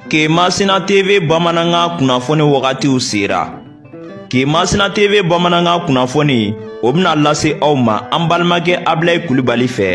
ke masina tv bamanankan kunnafoni wagatiw sera ke masina tv bamanankan kunnafoni o bɛna lase aw ma an balimakɛ abilayi kulubali fɛ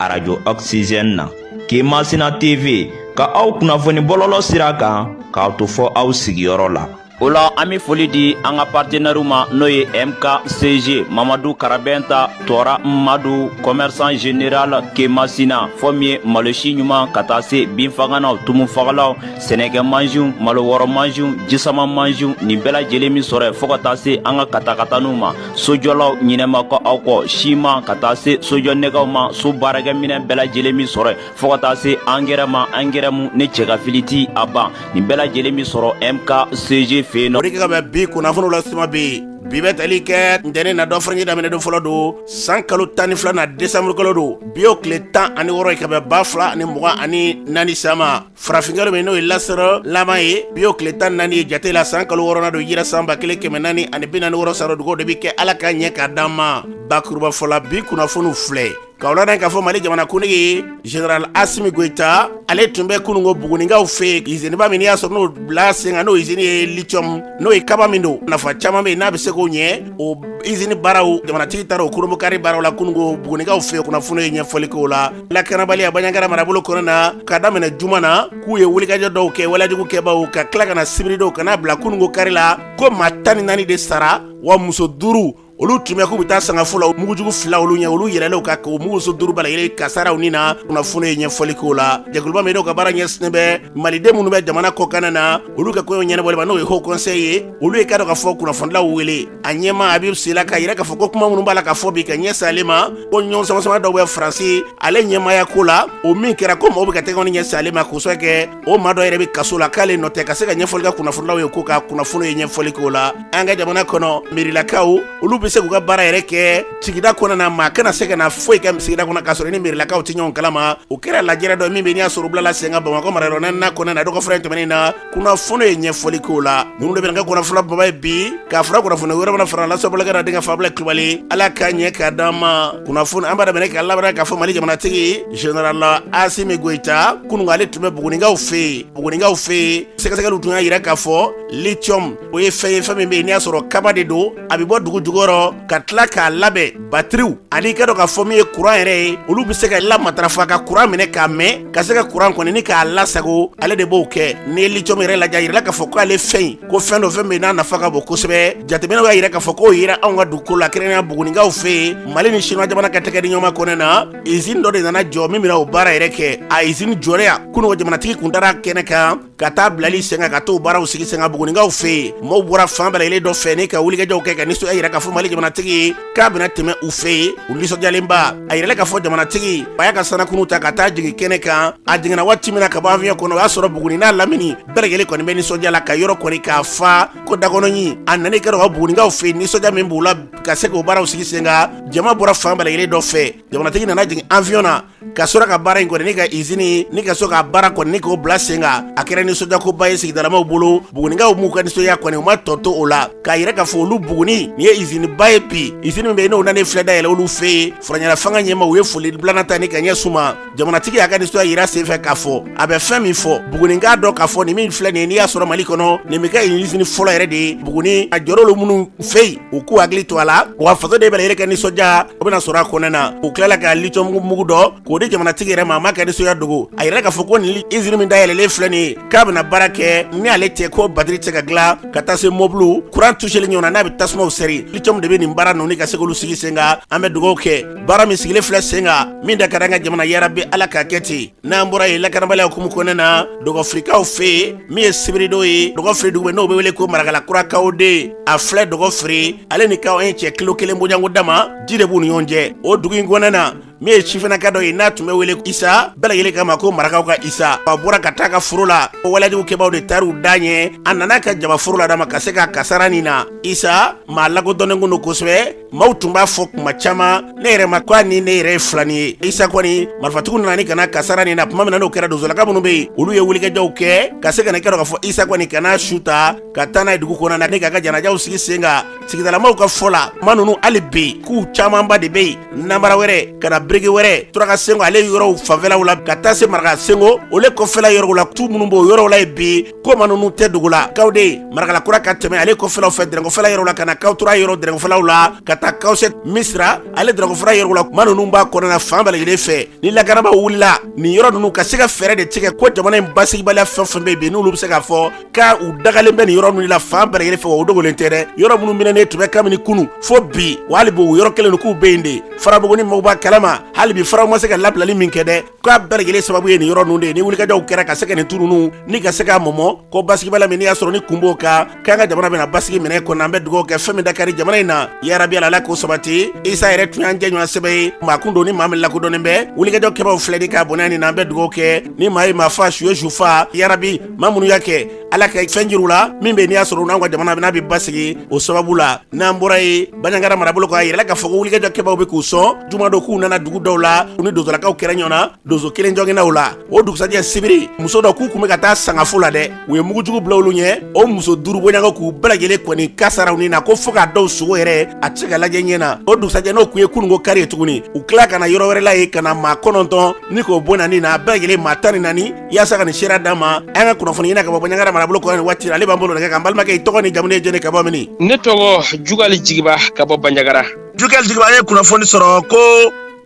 arajo oxygène na ke masina tv ka aw kunnafoni bɔlɔlɔ sira kan k'a to fɔ aw sigiyɔrɔ la o la an be foli di an ka partenɛriw ma n'o ye mkcg mamadu karabɛnta tɔɔra madu kɔmɛrisan general kemasina fɔ min ye malosi ɲuman ka taa se binfaganaw tumufagalaw sɛnɛkɛ mansiw malo wɔrɔ mansiw jisama mansiw nin bɛɛ lajɛlen be sɔrɔ yen fɔɔ ka taa se an ka katakataniw ma sojɔlaw ɲinɛ ma kɛ aw kɔ si ma ka taa se sojɔ nɛgɛw ma so baarakɛminɛn bɛɛ lajɛlen be sɔrɔ yen fɔɔ ka taa se angɛrɛ ma angɛrɛ mu ni cɛ k'a fili ti a ban nin bɛɛ lajɛlen be sɔrɔ mkcg fɛ yen nɔ o de kɛ ka bɛn bi kunnafoniw la suma be yen bi bɛ tali kɛ ntɛnɛ na dɔgɔfurancɛ daminɛ don fɔlɔ don san kalo tan ni filanan desanburu kalo don bi o tile tan ani wɔrɔ ye ka bɛn ba fila ani mugan ani naani san ma farafinkalo min n'o ye lasiri laban ye bi o tile tan naani ye jate la san kalo wɔrɔnan don hijira san ba kelen kɛmɛ naani ani bi naani wɔrɔ sarɔ dugaw de bi kɛ ala ka ɲɛ k'a d'an ma bakurubafɔ la bi kunnafoniw filɛ K'aw ladɔnniya k'a fɔ mali jamana kuntigi zenerali asimi goyita ale tun bɛ kununko buguninkaw fɛ yen izini ba min n'i y'a sɔrɔ n'o bila sen kan n'o izini ye liciyɔmu n'o ye kaba min don nafa caman bɛ yen n'a bɛ se k'o ɲɛ o izini baaraw jamanatigi taara o kurunbonkari baaraw la kununko buguninkaw fɛ yen kunnafoni ye ɲɛfɔli k'o la lakanabaliya banjagara marabolo kɔnɔna na ka daminɛ juma na k'u ye wulikajɔ dɔw kɛ walejugukɛbaw ka tila ka na sibiri dɔw ka n'a bila kununko kari la ko maa tan ni naani de sara wa muso duuru olu tun bɛ k'u bɛ taa sangafo la mugujugu fila olu ɲɛ olu yɛlɛlen u kan k'o muso duuru bɛɛ lajɛlen kasara u ni na kunnafoni ye ɲɛfɔli k'o la jɛkuluba min n'o ka baara ɲɛsinnen bɛ maliden minnu bɛ jamana kɔkanna na olu ka koɲɛw ɲɛnabɔli ma n'o ye haut conseil ye olu ye k'a dɔn k'a fɔ kunnafonilaw wele a ɲɛmaa abibu sila k'a yira k'a fɔ ko kuma minnu b'a la ka fɔ bi ka ɲɛsin ale ma ko ɲɔgɔn samasama dɔw bɛ faransi ale ɲɛmaaya ko la o min kɛra ko mɔgɔw bɛ ka tɛgɛw ni ɲɛsin ale ma k'o sɔrɔ kɛ o maa dɔ yɛrɛ bɛ kaso la k'ale nɔ tɛ ka se ka ɲɛfɔli kɛ kunnafonilaw ye ko ka kunnafoni ye ɲɛfɔli k'o la an ka jamana kɔnɔ mɛrilakaw olu bɛ se k'u ka baara yɛrɛ kɛ sigida kɔnɔ na maa kana se ka na foyi kɛ sigida kɔnɔ k'a sɔrɔ ni mɛrilakaw tɛ ɲɔgɔn kalama o kɛra lajɛrɛ dɔ min bɛ n'i y'a sɔrɔ bilala sen kan bamakɔ marayɔrɔ naaninan kɔnɔna na dɔgɔfurancɛ tɛmɛnen na kunnafoni ye ɲɛfɔli k'o la ninnu de bɛ kɛ kunnafoni baba ye bi k'a fara kunnafoni wɛrɛ fana fara lase aw balimakɛ n'aw denkɛ fɛ abilayi kulubali ala k'a ɲɛ k'a d'an ma kunnafoni an b'a daminɛ k'a labaara k'a fɔ mali jamanatigi Zenerali asimi goyita kununko ale tun bɛ buguninkaw fɛ yen buguninkaw fɛ yen sɛgɛsɛgɛli tun y'a jira k'a fɔ liciyɔmu o ye fɛn ye fɛn min bɛ n'i y'a sɔrɔ kaba de don a bɛ bɔ dugu jukɔrɔ ka tila k'a labɛn batiriw ani i k'a dɔn k'a fɔ min ye kuran yɛrɛ ye olu bɛ se ka lamatarafa ka kuran minɛ k'a mɛn ka se ka kuran kɔni k'a lasago ale de b'o kɛ ni liciyɔmu yɛrɛ lajɛ a jirala k'a fɔ k'ale fɛn yen ko fɛn don fɛn min n'a nafa ka bon kosɛbɛ jateminɛw y'a jira k'a fɔ k'o yera anw ka dugukolo la kɛrɛnkɛrɛnnenya buguninkaw fɛ yen mali ni siniwa jamana ka tɛgɛdiɲɔgɔnma kɔnɔ na izini dɔ de nana jɔ min bɛna o baara yɛrɛ kɛ a izini jɔlen kunu ko jamanatigi kun taara kɛnɛ kan ka taa bilali sen kan ka t'o baaraw sigi sen kan bugunikaw fɛ yen maaw bɔra fan bɛɛ lajɛlen dɔ fɛ ni ka wulikajɔw kɛ ka nisɔndiya yira k'a fɔ mali jamanatigi k'a bɛna tɛmɛ u fɛ yen u nisɔndiyalenba a yirala k'a fɔ jamanatigi a y'a ka sanakunu ta ka taa jigin kɛnɛ kan a jiginna waati min na ka bɔ awiyɔn kɔnɔ o y'a sɔrɔ buguni n'a lamini bɛɛ lajɛlen kɔni bɛ nisɔndiya la ka yɔrɔ kɔni k'a fa ko dakɔnɔɲi a nana kɛra ka bugunikaw fɛ yen nisɔndiya min b'u la ka se k'o baaraw sigi sen kan jama bɔra fan bɛɛ lajɛlen dɔ fɛ jamanatigi nana jigin awiyɔn na ka sɔrɔ ka baara in kɔni ni ka izini ni ka so ka baara kɔni ni k'o bila sen kan a kɛra nisɔndiyakoba ye sigidalamaw bolo bugunikaw m'u ka nisɔndiya kɔni u ma tɔ to o la k'a yira k'a fɔ olu buguni nin ye iziniba ye bi izini min bɛ yen n'o nalen filɛ dayɛlɛ olu fɛ yen furancɛla fanga ɲɛmaa u ye foli bilana ta ni k'a ɲɛsin u ma jamanatigi y'a ka nisɔndiya yira senfɛ k'a fɔ a bɛ fɛn min fɔ buguni k'a dɔn k'a fɔ nin min filɛ nin ye n'i y'a sɔrɔ mali kɔnɔ nin bɛ kɛ izini fɔlɔ yɛrɛ de ye buguni a jɔra olu minnu fɛ yen u k'u hakili to a la wa fasoden bɛɛ lajɛlen ka nisɔndiya o bɛna sɔrɔ a kɔnɛ na u tilala ka litiyɔn mugu dɔ k'o di jamanatigi yɛrɛ ma a m'a ka nisɔndiya dogo a yirala k'a fɔ ko nin izini min dayɛlɛlen filɛ nin ye k'a bɛna baara kɛ ni ale tɛ ko batiri tɛ se ka dilan ka taa se mɔbili kuran tuseli ɲɔgɔn na n'a bɛ tasumaw sɛri litiyɔn de bɛ nin baara ninnu ka se k'olu sigi sen kan an bɛ dugawu kɛ baara min sigilen filɛ sen kan min da ka d'an ka jamana yarabi ala k'a kɛ ten n'an bɔra yen lakanabaliya hukumu kɔnɔna na dɔgɔfirikaw fɛ yen min ye sibiridon ye dɔgɔfiri dugu bɛ n'o bɛ wele ko marakala kura kawo de a filɛ dɔgɔfiri ale ni kawo ɛn cɛ kilo kelen bɔɲɔgɔnko dama ji de b'u ni ɲɔgɔn cɛ o dugu in kɔnɔna na min ye sifinaka dɔ ye n'a tun bɛ wele isa bɛɛ lajɛlen kama ko marakaw ka isa a bɔra ka taa a ka foro la o walejugu kɛbaaw de taar'u da ɲɛ a nana a ka jaba foro la dama ka se k'a kasara nin na isa maa lakodɔnnen kun don kosɛbɛ maaw tun b'a fɔ kuma caman ne yɛrɛ ma ko a ni ne yɛrɛ ye filani ye isa kɔni marifatigiw nana ni ka n'a kasara nin na tuma min na n'o kɛra donsolaka minnu bɛ yen olu ye wulikajɔw kɛ ka se ka na i k'a dɔn k'a fɔ isa kɔni ka n'a su ta ka taa n'a ye dugu kɔnɔna na ni k'a ka janajaw sigi sen kan sigidalamaw ka fɔ la ko maa ninnu hali bi k'u camanba de bɛ yen nanbara wɛrɛ ka na biriki wɛrɛ turaka senko ale yɔrɔw fanfɛlaw la ka taa se maraka senko olu kɔfɛla yɔrɔw la tu minnu b'o yɔrɔw la yen bi ko maa ninnu tɛ dogo la kawo de yen marakala kura ka tɛmɛ ale kɔfɛlaw fɛ dɛrɛn kɔfɛla yɔrɔ la ka na kawo turuwa yɔrɔ dɛrɛn kɔfɛlaw la ka taa kawo sɛti misira ale dɛrɛn kɔfɛla yɔrɔw la ko maa ninnu b'a kɔnɔna fan bɛɛ lajɛlen fɛ ni lakanabaaw wulila nin yɔrɔ ninnu ka se ka fɛɛrɛ de tigɛ ko jamana in basigibaliya fɛn fɛn bɛ bi n'olu bɛ se k'a fɔ ko u dagalen bɛ nin yɔrɔ ninnu la fan bɛɛ lajɛlen fɛ wa o dogolen tɛ dɛ yɔrɔ minnu minɛnen tun bɛ kabini kunu fo bi wa hali bi o yɔrɔ kelen don k'u bɛ yen de farabugu nin mɔgɔw b'a kalama hali bi farabugu ma se ka labilali min kɛ dɛ k'a bɛɛ lajɛlen sababu ye nin yɔrɔ ninnu de ye ni wulikajɔw kɛra ka se ka nin tu ninnu ni ka se k'a mɔmɔ ko basigibaliya min n'i y'a sɔrɔ ni kun b'o kan k'an ka jamana bɛna basigi minɛ kɔnɔ an bɛ dugawu kɛ fɛn min da ka di jamana in na yarabi ala k'o sabati isa yɛrɛ tun y'an jɛɲɔgɔn sɛbɛ ye maa kun don ni maa min lakodɔnnen bɛ wulikajɔ kɛbaaw filɛ ni k'a bɔnɛ a nin na an bɛ dugawu kɛ ni maa ye maa fa su ye su fa yarabi maa minnu y'a kɛ ala ka fɛn jir'u la min bɛ n'i y'a sɔrɔ n'an ka jamana n'a bɛ basigi o sababu la n'an bɔra yen banjagara marabolo kɔnɔ a jirala k'a fɔ ko wulikajɔ kɛbaaw bɛ k'u sɔn jumadon k'u nana dugu dɔw la u ni donsolakaw kɛra ɲɔgɔn na donso kelen joginna u la o dugusajɛ sibiri muso dɔw k'u kun bɛ ka taa sangafo la dɛ u ye mugujugu bila olu ɲɛ o muso duuru bɔɲɔgɔn k'u bɛɛ lajɛlen kɔni kasaara u ni na ko fo k'a dɔw sogo yɛrɛ a tɛ se ka lajɛ ɲɛ na o dugusajɛ n'o kun ye kununko kari ye tuguni u tila ka na yɔrɔ wɛrɛ la yen ka na maa kɔnɔntɔn ni k'o bɔnɛ ni na a bɛɛ lajɛlen maa tan ni naani yaasa ka nin seereya d'an ma an ka kunnafoni ɲinina ka bɔ banjagara marabolo kɔnɔ nin waati ale b'an bolo nɛgɛ kan balimakɛ i tɔgɔ n'i jamu ye jɛnɛ ka bɔ mini ne tɔgɔ jugali jigiba ka bɔ banjagara jugali jigiba an ye kunnafoni sɔrɔ ko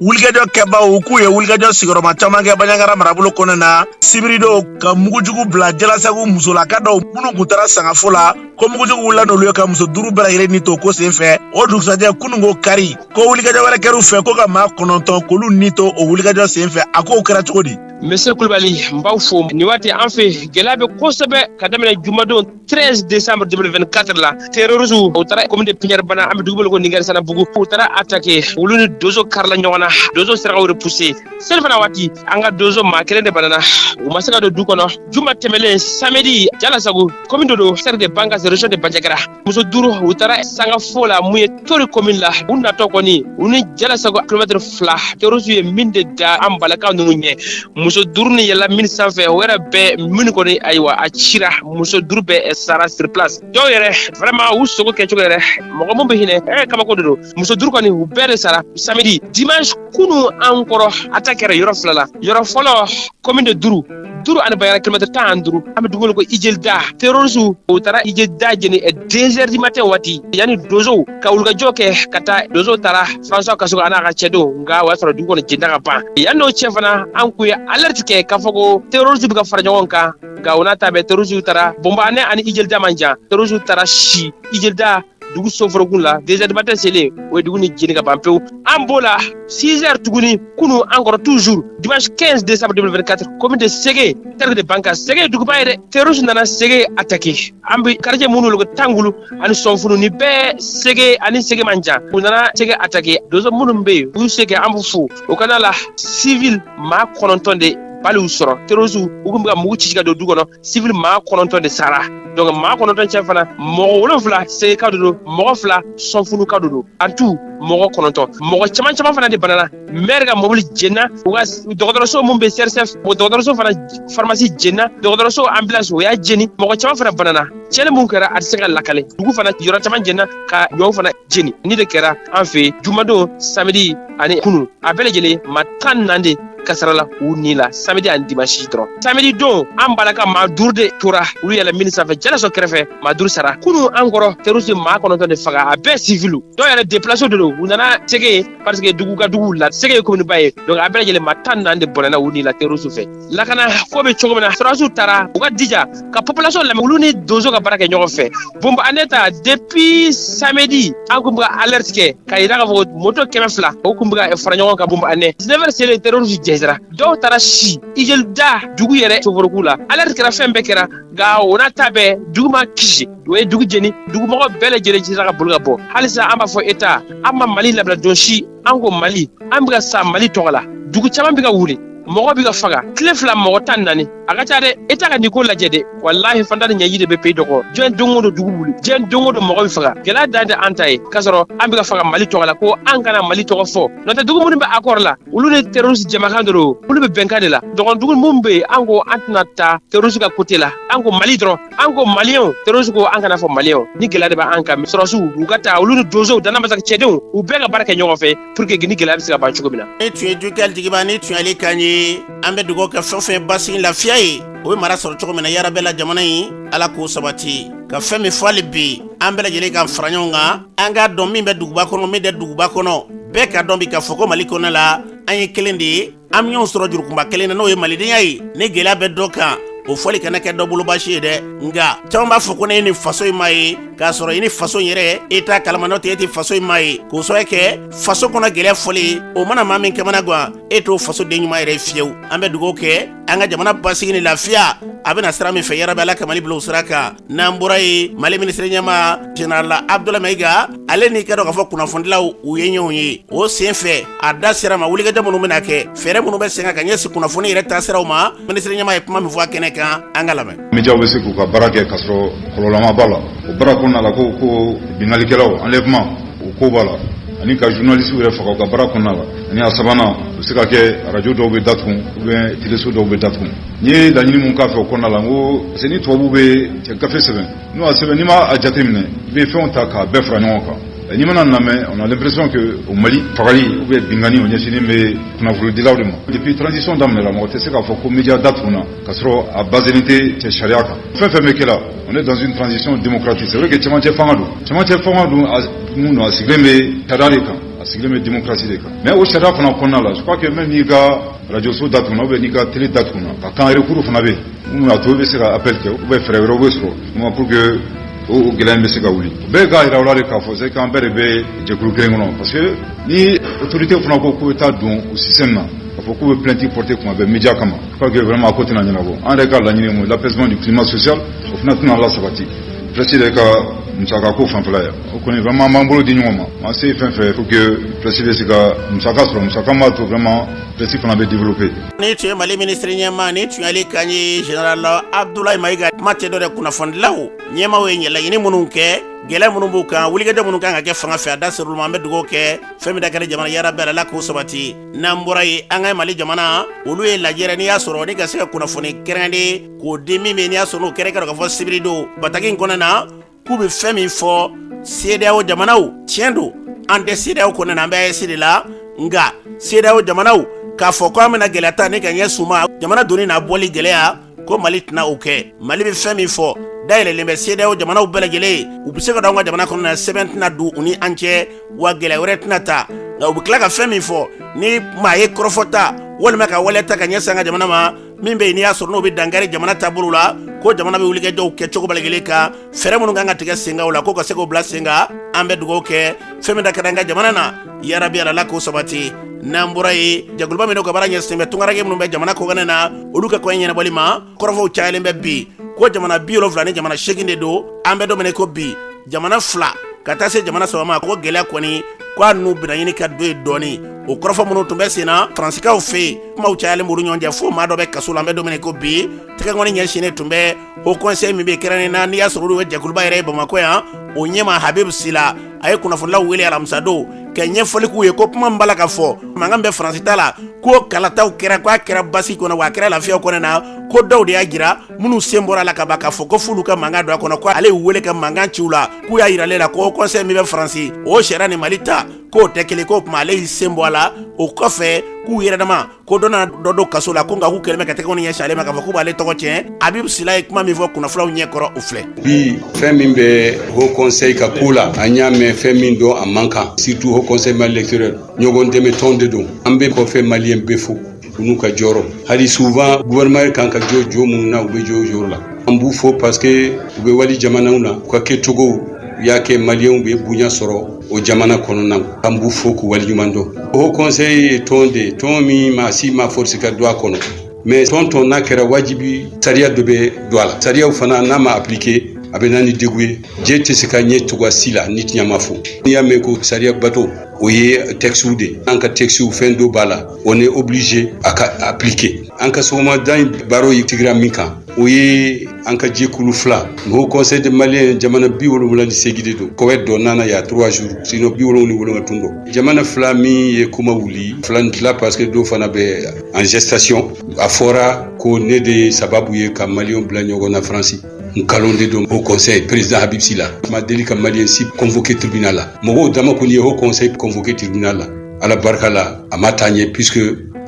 wulikajɔ kɛbaaw k'u ye wulikajɔ sigiyɔrɔma caman kɛ banjagara marabolo kɔnɔ na sibiridon ka mugujugu bila jalasagu musolaka dɔw minnu kun taara sangafo la ko mugujugu wulila n'olu ye ka muso duuru bɛɛ lajɛlen ni to ko sen fɛ o dugusajɛ kunun ko kari ko wulikajɔ wɛrɛ kɛr'u fɛ ko ka maa kɔnɔntɔn k'olu ni to o wulikajɔ sen fɛ a k'o kɛra cogo di Monsieur Kulubali n b'aw fo nin waati an fɛ gɛlɛya bɛ kosɛbɛ ka daminɛ jumadon 13 décembre 2024 la terroristes u taara commune de Pignari Bana an bɛ dugu wele ko Ningari Sanabugu u taara attaquer olu ni dozo karila ɲɔgɔn na dozo sera k'u repousser seli fana waati an ka dozo maa kelen de banana u ma se ka don du kɔnɔ juma tɛmɛlen samedi Jalasago commune dɔ don cercle de Bankass région de Bandiagara muso duuru u taara sanga fo la mun ye tori komin la u natɔ kɔni u ni jalasago kilomɛtiri fila terroristes ye mine de da an balakaw ninnu ɲɛ muso duuru ni yɛlɛla mine sanfɛ o yɛrɛ bɛɛ minnu kɔni ayiwa a cira muso duuru bɛɛ sara sur place dɔw yɛrɛ vraiment u sogo kɛcogo yɛrɛ mɔgɔ min bɛ hinɛ ɛ kabako de don muso duuru kɔni u bɛɛ de sara samedi dimanche kunu an kɔrɔ attaque kɛra yɔrɔ fila la yɔrɔ fɔlɔ commune de duru duru ani banjagara kilomɛtɛ tan ani duuru an bɛ dugu wele ko ijelida terɔrisu u taara ijelida jeni ɛ deux heures du matin waati yanni donsow ka wulikajɔ kɛ ka taa donsow taara François Kasoge a n'a ka cɛdenw nka o y'a sɔrɔ dugu kɔnɔ jenna ka ban yann'o cɛ fana an kun ye alerte kɛ k'a fɔ ko terɔrisu bɛ ka fara ɲɔgɔn kan nka o n'a ta bɛɛ terɔrisu taara bɔnbane ani ijelida man jan terɔrisu taara si ijelida dugu soforokun la deux heures du matin selen u ye dugu nin jeni ka ban pewu an b'o la 6 heures tuguni kunu an kɔrɔ toujours dimanche 15 décembre 2024 commune de sege cercle de bankass sege duguba ye dɛ terroristes nana sege attaquer an bɛ quartier minnu wele ko tangulu ani sɔnfunu ni bɛɛ sege ani sege man jan u nana sege attaquer donso minnu bɛ yen u y'u se kɛ an b'u fo o kana la civil maa kɔnɔntɔn de balle y'u sɔrɔ terroristes u kun bɛ ka mugu ci ka don du kɔnɔ sivili maa kɔnɔntɔn de sara donc maa kɔnɔntɔn cɛ fana mɔgɔ wolonfila segeka de don mɔgɔ fila sɔnfunuka de don en tout mɔgɔ kɔnɔntɔn mɔgɔ caman caman fana de banana maire ka mɔbili jenna u ka dɔgɔtɔrɔso min bɛ csf o dɔgɔtɔrɔso fana farmasi jenna dɔgɔtɔrɔso ambulance u y'a jeni mɔgɔ caman fana banana cɛnni mun kɛra a tɛ se ka lakale dugu fana yɔrɔ caman jenna ka ɲɔw fana jeni nin de kɛra an fɛ jumadon samedi ani kunu a bɛɛ lajɛlen maa tan naani de kasarala u ni la samedi ani dimansi dɔrɔn samedi don an b'a la ka maa duuru de tora olu yɛlɛ mini sanfɛ jalasɔ kɛrɛfɛ maa duuru sara kunu an kɔrɔ terroriste maa kɔnɔntɔn de faga a bɛɛ sivilu dɔw yɛrɛ déplacé de don u nana sege parce que dugu ka dugu la sege ye kominiba ye donc a bɛɛ lajɛlen maa tan naani de bɔnɛna u ni la terroriste fɛ lakana ko bɛ cogo min na sɔrɔdasiw taara u ka jija ka population lamɛn olu ni donso ka baara kɛ ɲɔgɔn fɛ bonbane ta depuis samedi an kun bɛ ka alerte kɛ k'a yira k'a fɔ ko moto kɛmɛ fila o kun bɛ ka fara ɲɔgɔn kan bonbane 19 heures selen terroriste jɛnsɛra dɔw taara si ijelida dugu yɛrɛ soforoku la alerte kɛra fɛn bɛɛ kɛra nka o n'a ta bɛɛ dugu ma kisi o ye dugu jeni dugumɔgɔ bɛɛ lajɛlen sera ka boli ka bɔ halisa an b'a fɔ État an ma mali labila don si an ko mali an bɛ ka sa mali tɔgɔ la dugu caman bɛ ka wuli mɔgɔ bɛ ka faga tile fila mɔgɔ tan naani a ka ca dɛ État ka nin ko lajɛ dɛ walahi faantan ni ɲɛji de bɛ pays dɔgɔn diɲɛ don o don dugu wuli diɲɛ don o don mɔgɔ bɛ faga gɛlɛya dan tɛ an ta ye k'a sɔrɔ an bɛ ka faga mali tɔgɔ la ko an kana mali tɔgɔ fɔ n'o tɛ dugu minnu bɛ akɔri la olu ni terroriste jamakan de don olu bɛ bɛnkan de la dɔgɔn dugu minnu bɛ yen an ko an tɛna taa terroriste ka kote la an ko mali dɔrɔn an ko maliyɛnw terroriste ko an kana fɔ maliyɛnw ni gɛlɛya de bɛ an kan sɔrɔsiw u ka taa olu ni donsow danamasagu cɛdenw u bɛɛ ka baara kɛ ɲɔgɔn fɛ pour que ni gɛlɛya bɛ se ka ban cogo min na nin tun ye jukɛli jigiba nin tun y'ale kan ye an bɛ dugawu kɛ fɛn fɛn basigi lafiya ye o bɛ mara sɔrɔ cogo min na yarabi la jamana ye ala k'o sabati ka fɛn min fɔ hali bi an bɛɛ lajɛlen ka fara ɲɔgɔn kan an k'a dɔn min bɛ duguba kɔnɔ min tɛ duguba kɔnɔ bɛɛ k'a dɔn bi k'a fɔ ko mali kɔnɔ la an ye kelen de ye an bɛ ɲɔgɔn sɔrɔ jurukunba kelen na n'o ye malidenya ye ni gɛlɛya bɛ dɔ kan o fɔli kana kɛ dɔ bolo baasi ye dɛ nka caman b'a fɔ ko ne ye nin faso in maa ye k'a sɔrɔ i ni faso in yɛrɛ e t'a kalama n'o tɛ e tɛ faso in maa ye k'o sababu kɛ faso kɔnɔ gɛlɛya fɔli o mana maa min kamanagan e t'o faso den ɲuman yɛrɛ fiyewu an bɛ dugawu kɛ an ka jamana basigi ni lafiya a bɛ na sira min fɛ yarabi ala ka mali bila o sira kan n'an bɔra yen mali minisiri ɲɛmaa general abdulayi mayiga ale n'i k'a dɔn k'a fɔ kunnafonidilaw u ye ɲɔgɔn ye o sen fɛ a da sera ma wulikajɔ minnu bɛna kɛ fɛɛrɛ minnu bɛ sen kan ka ɲɛsin kunnafoni yɛrɛ taasiraw ma minisiri ɲɛmaa ye kuma min fɔ a kɛnɛ kan an k'a lamɛn médiaw bɛ se k'u ka baara kɛ k'a sɔrɔ kɔlɔlɔ ma b'a la o baara kɔnɔna la ko ko binkalikɛlaw enlèvement o ko b'a la ani ka journaliste yɛrɛ faga u ka baara kɔnɔna la ani a sabanan o bɛ se ka kɛ arajo dɔw bɛ datugu ou bien teleso dɔw bɛ datugu N ye laɲini min k'a fɛ o kɔnɔna la n ko parce que ni tubabu bɛ gafe sɛbɛn n'o y'a sɛbɛn n'i ma a jateminɛ i bɛ fɛnw ta k'a bɛɛ fara ɲɔgɔn kan ɛ n'i mana lamɛn on a l'impression que au Mali fagali ou bien binkanni o ɲɛsinnen bɛ kunnafonidilaw de ma depuis transition daminɛra mɔgɔ tɛ se k'a fɔ ko media datugunna k'a sɔrɔ a baser len tɛ cɛ sariya kan fɛn fɛn bɛ kɛ la on est dans une transition démocratique c'est vrai que cɛmancɛ fanga don cɛmancɛ fanga don a mun don a sigilen bɛ sariya de kan a sigilen bɛ démocratie de kan mais o sariya fana kɔnɔna la je crois que même n'i ka Arajso dat kɔnɔ bɛ n'i ka teli dat kɔnɔ ka kangarekuru fana bɛ yen a to bɛ se ka apli kɛ u bɛ fɛɛrɛ wɛrɛ bɛ sɔrɔ ma pur que o gɛlɛn bɛ se ka wuli bɛɛ k'a jira wɛrɛ de k'a fɔ se k'an bɛɛ de bɛ jɛkulu kelen kɔnɔ parce que ni otourute fana ko k'u bɛ taa don u si na a fɔ k'u bɛ plɛti pote tuma bɛ mija kama pa que wɛrɛ ma ko tɛna ɲɛnabɔ an yɛrɛ ka laɲini ma lapsima ni kima sɔsiya o fana tɛna ala la sabati plɛti de ka musaka ko fanfɛ yan o kɔni vraiment an b'an bolo di ɲɔgɔn ma an se fɛn fɛn pour que presse bɛ se ka musaka sɔrɔ musaka min b'a to vraiment presse fana bɛ développer. ni tun ye mali minisiri ɲɛmaa ni tun y'ale kan ye general abdulayi mayiga kuma tɛ dɔ dɛ kunnafonidilaw ɲɛmaaw ye laɲini minnu kɛ gɛlɛya minnu b'u kan wulikajɔ minnu kan ka kɛ fanga fɛ a da ser'olu ma an bɛ dugawu kɛ fɛn min da ka di jamana yarabi ala k'o sabati n'an bɔra ye an ka mali jamana olu ye lajɛrɛ n'i y'a sɔrɔ ni ka se ka kunnafoni kɛrɛnkɛrɛnnen k'o di min bɛ n'i y'a sɔrɔ n'o kɛrɛnkɛrɛn k'a fɔ sibiri don bataki in kɔnɔna na k'u bɛ fɛn min fɔ CEDEAO jamanaw tiɲɛ don an tɛ CEDEAO kɔnɔna an bɛ AES de la nka CEDEAO jamanaw k'a fɔ ko an bɛna gɛlɛya ta ni ka ɲɛsin u ma jamana donni n'a bɔli gɛlɛya ko mali tɛna o kɛ mali bɛ fɛn min fɔ da yɛlɛlen bɛ CEDEAO jamanaw bɛɛ lajɛlen ye u bɛ se ka don an ka jamana kɔnɔna sɛbɛn tɛna don u ni an cɛ wa gɛlɛya wɛrɛ tɛna ta nka u bɛ tila ka fɛn min fɔ ni maa ye kɔrɔfɔ ta walima ka waleya ta ka ɲɛsin an ka jamana ma min bɛ yen n'i y'a sɔrɔ n'o bɛ dankari jamana taabolo la ko jamana bɛ wulikajɔw kɛ cogo bɛɛ la i kelen kan fɛɛrɛ minnu kan ka tigɛ sen kan o la ko ka se k'o bila sen kan an bɛ dugawu kɛ fɛn min da ka di an ka jamana na yarabi ala la k'o sabati n'an bɔra ye jɛkuluba min n'o ka baara ɲɛsinnen bɛ tungarankɛ minnu bɛ jamana kɔkanna na olu ka kɔɲɛ ɲɛnabɔli ma kɔrɔfɔw cayalen bɛ bi ko jamana bi wolonfila ni jamana segin de don an bɛ don min na ko bi jamana fila ka taa se jamana saba ma ko gɛlɛya kɔni ko a n'u bɛna ɲini ka don ye dɔɔni o kɔrɔfɔ minnu tun bɛ sen na faransikaw fɛ yen kumaw cayalen b'olu ɲɔgɔn cɛ fo maa dɔ bɛ kaso la an bɛ don min na ko bi tɛgɛkɔni ɲɛsinnen tun bɛ o kɔnsɛyi min bɛ kɛrɛ nin na n'i y'a sɔrɔ olu bɛ jɛkuluba yɛrɛ ye bamakɔ yan o ɲɛma habib sila a ye kunnafonilaw wele alamisadon ka ɲɛfɔli k'u ye ko kuma min b'a la k'a fɔ mankan min bɛ faransi ta la ko kalataw kɛra ko a kɛra basigi kɔnɔ wa a kɛra lafiyaw kɔnɔ na ko dɔw de y'a jira minnu sen bɔra a la kaban k'a fɔ ko f'olu ka mankan don a kɔnɔ ko ale y'u wele ka mankan ci u la k'u y'a yira ale la ko kɔnsɛyi min bɛ faransi o sariya ni mali ta k'o tɛ kelen k'o tuma ale y'i sen bɔ a la o kɔfɛ k'u yɛrɛdama ko dɔ na dɔ don kaso la ko nka k'u kɛlen bɛ ka tɛgɛkɔni ɲɛsin ale ma k'a fɔ k'u b'ale tɔgɔ tiɲɛ habibu sila ye kuma min fɔ kunnafonilaw ɲɛ kɔrɔ o filɛ bi fɛn min bɛ haut conseil ka ko la an y'a mɛn fɛn min don a man kan surtout haut conseil maliens de l'extérieur ɲɔgɔn dɛmɛ tɔn de don an bɛ kɔfɛ maliyɛn bɛɛ fo u n'u ka jɔyɔrɔ hali souvent gouvernement kan ka jɔ jɔyɔrɔ minnu na u bɛ jɔ o jɔyɔrɔ la an b'u fo parce que u bɛ wali jamanaw na u ka kɛcogow y'a kɛ maliyɛnw bɛ bonya sɔrɔ o jamana kɔnɔna an b'u fo k'u waleɲuman dɔn haut conseil ye tɔn de ye tɔn min maa si ma force ka don a kɔnɔ mais tɔn tɔn n'a kɛra wajibi sariya dɔ bɛ don a la sariyaw fana n'a ma appliquer a bɛ na ni degun ye jɛ tɛ se ka ɲɛ cogoya si la ni tiɲɛ ma fɔ n'i y'a mɛn ko sariya bato o ye textiw de ye an ka textiw fɛn dɔ b'a la on est obligé a ka appliquer an ka sɔgɔmada in baro ye tigɛra min kan o ye an ka jɛkulu fila haut conseil des maliens jamana bi wolonwula ni segin de don koweït de nana y'a trois jours sinon bi wolonwula ni wolonwula tun don jamana fila min ye kuma wuli fila ni tila parce que dɔw fana bɛ en gestation a fɔra ko ne de ye sababu ye ka malienw bila ɲɔgɔn na faransi nkalon de don haut conseil président habib sylla ma deli ka malien si convoquer tribunal la mɔgɔw dama kɔni ye haut conseil convoquer tribunal la ala barika la a ma taa ɲɛ puisque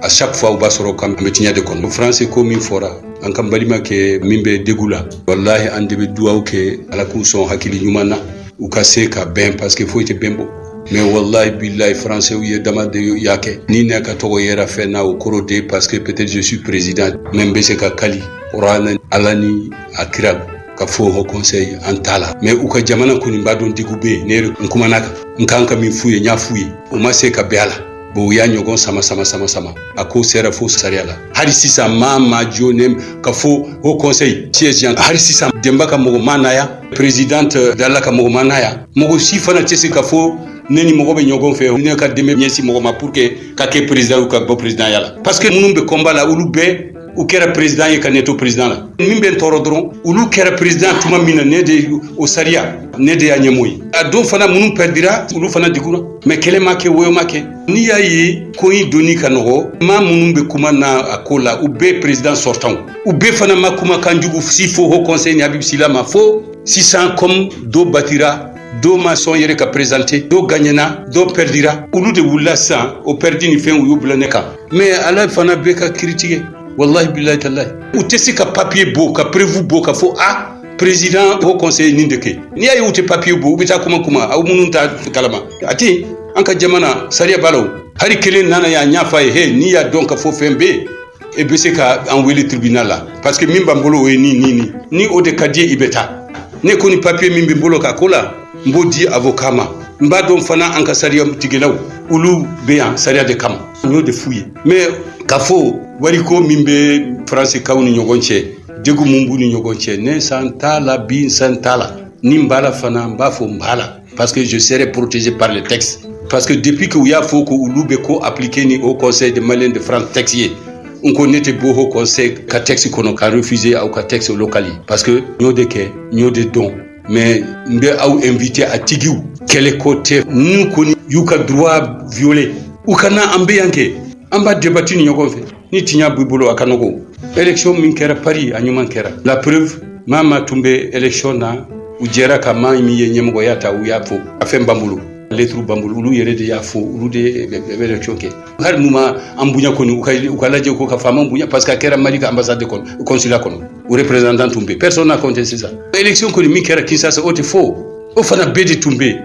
a chaque fois u b'a sɔrɔ k'an bɛ tiɲɛ de kɔnɔ france ko min fɔra an ka balimakɛ min bɛ dɛgun la walahi an de bɛ duwaw kɛ ala k'u sɔn hakili ɲuman na u ka se ka bɛn parce que foyi tɛ bɛn bɔ mais wallahi billahi françaisw yɛrɛ dama de y'a kɛ ni ne ka tɔgɔ yera fɛn na o kɔrɔ de parce que peut-être je suis président mais n bɛ se ka kali kurana ala ni a kira ka fɔ haut conseil an t'a la mais u ka jamana kɔni b'a dɔn dɛgun bɛ yen ne kumana a kan n kan ka min f'u ye n y'a f'u ye u ma se ka bɛn a la bon u y'a ɲɔgɔn sama sama sama sama a ko sera fo sariya la hali sisan maa ma jɔ ne ka fɔ haut conseil siège yan hali sisan denba ka mɔgɔ ma na yan présidente euh, dala ka mɔgɔ ma na yan mɔgɔ si fana tɛ se ka fɔ ne ni mɔgɔ bɛ ɲɔgɔn fɛ ne ka dɛmɛ ɲɛsin mɔgɔ ma pour que ka kɛ président ka bɔ présidentya la parce que minnu bɛ combat la olu bɛɛ u kɛra président ye ka ne to président la min bɛ n tɔɔrɔ dɔrɔn olu kɛra président tuma min na ne de o sariya ne de y'a ɲɛmɔgɔ ye a don fana minnu pɛrdira olu fana dɛgunna mais kɛlɛ ma kɛ woyo ma kɛ n'i y'a ye ko in dɔnni ka nɔgɔ maa minnu bɛ kuma na a ko la u bɛɛ président sortantw u bɛɛ fana ma kumakan jugu si fɔ haut conseil ni habib sylla ma fo sisan comme dɔ batira dɔ ma sɔn yɛrɛ ka présenter dɔ gagnena dɔ pɛrdira olu de wulila sisan o pɛrdi nin fɛ u y'u bila ne kan mais ala fana bɛ ka kiri tigɛ walahi billahi tallahi u tɛ se ka papiye bɔ ka preuve bɔ ka fɔ a président haut conseil nin de kɛ n'i y'a ye u tɛ papiye bɔ u bɛ taa kuma kuma aw minnu t'a kalama a tɛ an ka jamana sariya b'a la hali kelen nana yan n y'a f'a ye he n'i y'a dɔn ka fɔ fɛn bɛ yen e bɛ se ka an wele tribunal la parce que min b'an bolo o ye ni ni ni ni o de ka di i bɛ taa ne kɔni papiye min bɛ n bolo ka ko la n b'o di avoka ma n b'a dɔn fana an ka sariya tigɛlaw olu bɛ yan sariya de kama n y'o de f'u ye mais ka fɔ wariko min bɛ faransikaw ni ɲɔgɔn cɛ dɛgun mun b'u ni ɲɔgɔn cɛ ne sen t'a la bi n sen t'a la ni n b'a la fana n b'a fɔ n b'a la parce que je serai protégé par le texte parce que depuis que u y'a fɔ ko olu bɛ ko appliquer ni haut conseil des maliens de france texte ye n ko ne tɛ bɔ haut conseil ka texte kɔnɔ ka refuser aw ka texte local ye parce que n y'o de kɛ n y'o de dɔn mais n bɛ aw invité a tigiw kɛlɛ ko tɛ minnu kɔni y'u ka droit violer u ka na an bɛ yan kɛ an b'a debati ni ɲɔgɔn fɛ ni tiɲa b'i bolo a ka nɔgɔ élection min kɛra paris a ɲuman kɛra la preuve maa o maa tun bɛ élection na u jɛra ka maa min ye ɲɛmɔgɔya ta u y'a fo a fɛn b'an bolo lettre b'an bolo olu yɛrɛ de y'a fɔ olu de bɛ élection kɛ hali n'u ma an bonya kɔni u ka u ka lajɛ ko ka faama bonya parce que a kɛra mali ka ambassade de kɔnɔ consulat kɔnɔ u représentant tun bɛ personne n'a contesté ça élection kɔni min kɛra kinshasa o tɛ fo o fana bɛɛ de tun bɛ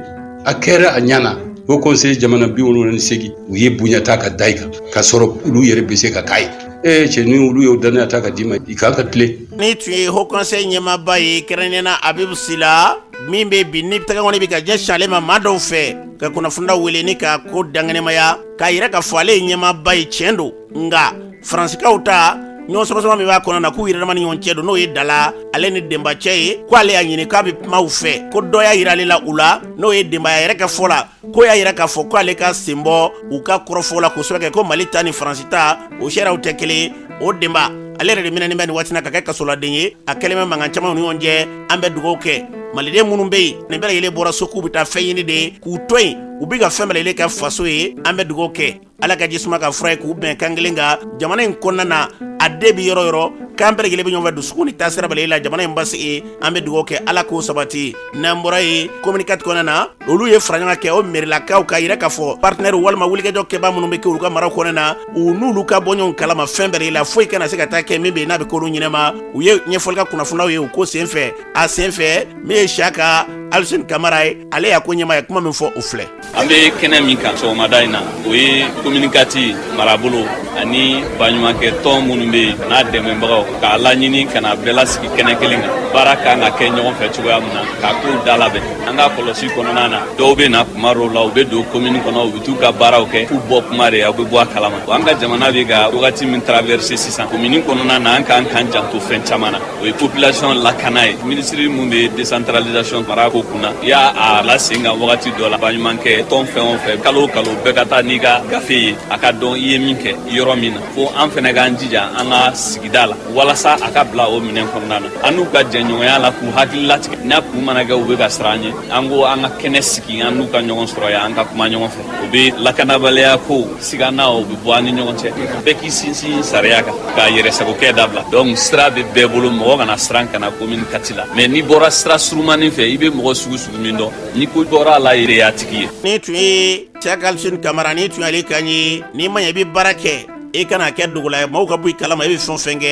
a kɛra a ɲana haut conseil jamana bi wolonwula ni segin u ye bonya ta ka da i kan ka sɔrɔ olu yɛrɛ bɛ se ka k'a ye ee cɛ ni olu y'o dannaya ta ka d'i ma i kan ka tilen nin tun ye haut conseil ɲɛmaaba ye kɛrɛnkɛrɛnna abibu sila min bɛ bi ni tɛgɛkɔni bɛ ka ɲɛsin ale ma maa dɔw fɛ ka kunnafonidaw wele ni ka ko dankɛnɛmaya k'a yira k'a fɔ ale ye ɲɛmaaba ye tiɲɛ don nka faransikaw ta ɲɔgɔn samasama min b'a kɔnɔ na k'u yɛrɛdama ni ɲɔgɔn cɛ don n'o ye dala ale ni denba cɛ ye ko ale y'a ɲini k'a bɛ kuma u fɛ ko dɔ y'a yira ale la u la n'o ye denba ye a yɛrɛ ka fɔ la ko y'a yira k'a fɔ ko ale ka sen bɔ u ka kɔrɔfɔ la k'o sabu kɛ ko mali ta ni faransi ta o sariyaw tɛ kelen o denba ale yɛrɛ de minɛnen bɛ nin waati na ka kɛ kasoladen ye a kɛlen bɛ mankan caman u ni ɲɔgɔn cɛ an bɛ dugawu kɛ maliden minnu bɛ yen nin bɛɛ lajɛlen bɔra so k'u bɛ taa fɛn ɲini de k'u to yen u bɛ ka fɛn bɛɛ lajɛlen kɛ faso ye an bɛ dugawu kɛ ala ka jisuma kɛ fura ye k'u bɛn kan kelen kan jamana in kɔnɔna na a den bɛ yɔrɔ yɔrɔ k'an bɛɛ lajɛlen bɛ ɲɔgɔn fɛ dusukun ni taasira bɛɛ lajɛlen la jamana in basigi an bɛ dugawu kɛ ala k'o sabati n'an bɔra yen commune quatre kɔnɔna na olu ye faraɲɔgɔn kɛ o merilakaw k'a yira k'a fɔ partenɛri walima wulikajɔ kɛbaa minnu be kɛ olu ka maraw kɔnɔna na u n'olu ka bɔ ɲɔgɔn kalama fɛn bɛrɛ la foyi kana se ka taa kɛ min be n'a be k'olu ɲinɛma u ye ɲɛfɔli kɛ kunnafonaw ye u ko sen fɛ a sen fɛ min ye siyaka alisin kamara ye ale y'a ko ɲɛmaa ye kuma min fɔ o filɛ an be kɛnɛ min kan sɔgɔmada in na o ye commune quatre marabolo ani baɲumankɛ tɔn minnu be yen n'a dɛmɛbagaw k'a laɲini ka na bɛɛ lasigi kɛnɛ kelen kan baara kan ka kɛ ɲɔgɔn fɛ cogoya min na k'a kow da labɛn an ka kɔlɔsi kɔnɔna na dɔw bɛ na kuma dɔw la u bɛ don komini kɔnɔ u bɛ t'u ka baaraw kɛ k'u bɔ kuma de aw bɛ bɔ a kalama an ka jamana bɛ ka wagati min traverse sisan komini kɔnɔna na an kan k'an janto fɛn caman na o ye population lakana ye minisiri min bɛ décentralisation mara ko kunna i y'a a la sen kan wagati dɔ la baɲumankɛ tɔn fɛn o fɛn kalo o kalo bɛɛ ka taa n'i ka gafe ye a ka dɔn i ye min kɛ yɔrɔ min na fo an fana k'an jija an ka sigida la walasa a ka bila o minɛn kɔnɔna na an n'u ka jɛɲɔgɔnya la k'u hakili latigɛ n'a kun mana kɛ u bɛ ka siran an ɲɛ an ko an ka kɛnɛ sigi an n'u ka ɲɔgɔn sɔrɔ yan an ka kuma ɲɔgɔn fɛ o bɛ lakanabaliya ko sigana o bɛ bɔ an ni ɲɔgɔn cɛ bɛɛ k'i sinsin sariya kan ka yɛrɛsagokɛ dabila donc sira bɛ bɛɛ bolo mɔgɔ kana siran ka na commune quatre la mais n'i bɔra sira surumanin fɛ i bɛ mɔgɔ sugu sugu min dɔn ni ko bɔra a la i yɛrɛ y'a tigi ye nin tun ye siyaka alisin kamara nin tun y'ale kan ye n'i ma ɲɛ i bɛ baara kɛ i kana kɛ dogola ye maaw ka bɔ i kalama i bɛ fɛn o fɛn kɛ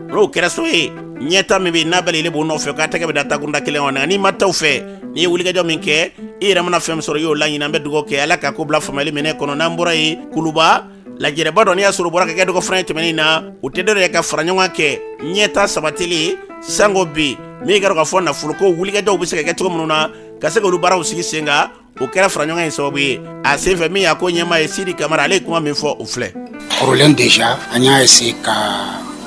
n'o kɛra so ye ɲɛtaa min bɛ n'a bɛɛ lajɛlen b'o nɔfɛ ka tɛgɛ bɛɛ da takunda kelen kɔnɔ n'i ma taa o fɛ n'i ye wulikajɔ min kɛ i yɛrɛ mana fɛn min sɔrɔ i y'o laɲini an bɛ dugawu kɛ ala ka ko bila faamuyali minɛ kɔnɔ n'an bɔra yen kuluba lajɛrɛba dɔ n'i y'a sɔrɔ bɔra ka kɛ dɔgɔ fana ye tɛmɛnen na o tɛ dɔ wɛrɛ ye ka fara ɲɔgɔn kɛ ɲɛtaa sabatili sango bi min kɛra k'a fɔ nafoloko wulikajɔw bɛ se ka kɛ cogo minnu na ka se k'olu baaraw sigi sen kan o kɛra faraɲɔgɔn ye sababu ye a senfɛ min y'a ko ɲɛmaa ye sidi kamara ale ye kuma min fɔ o filɛ kɔrɔlen déjà an y'a essayer ka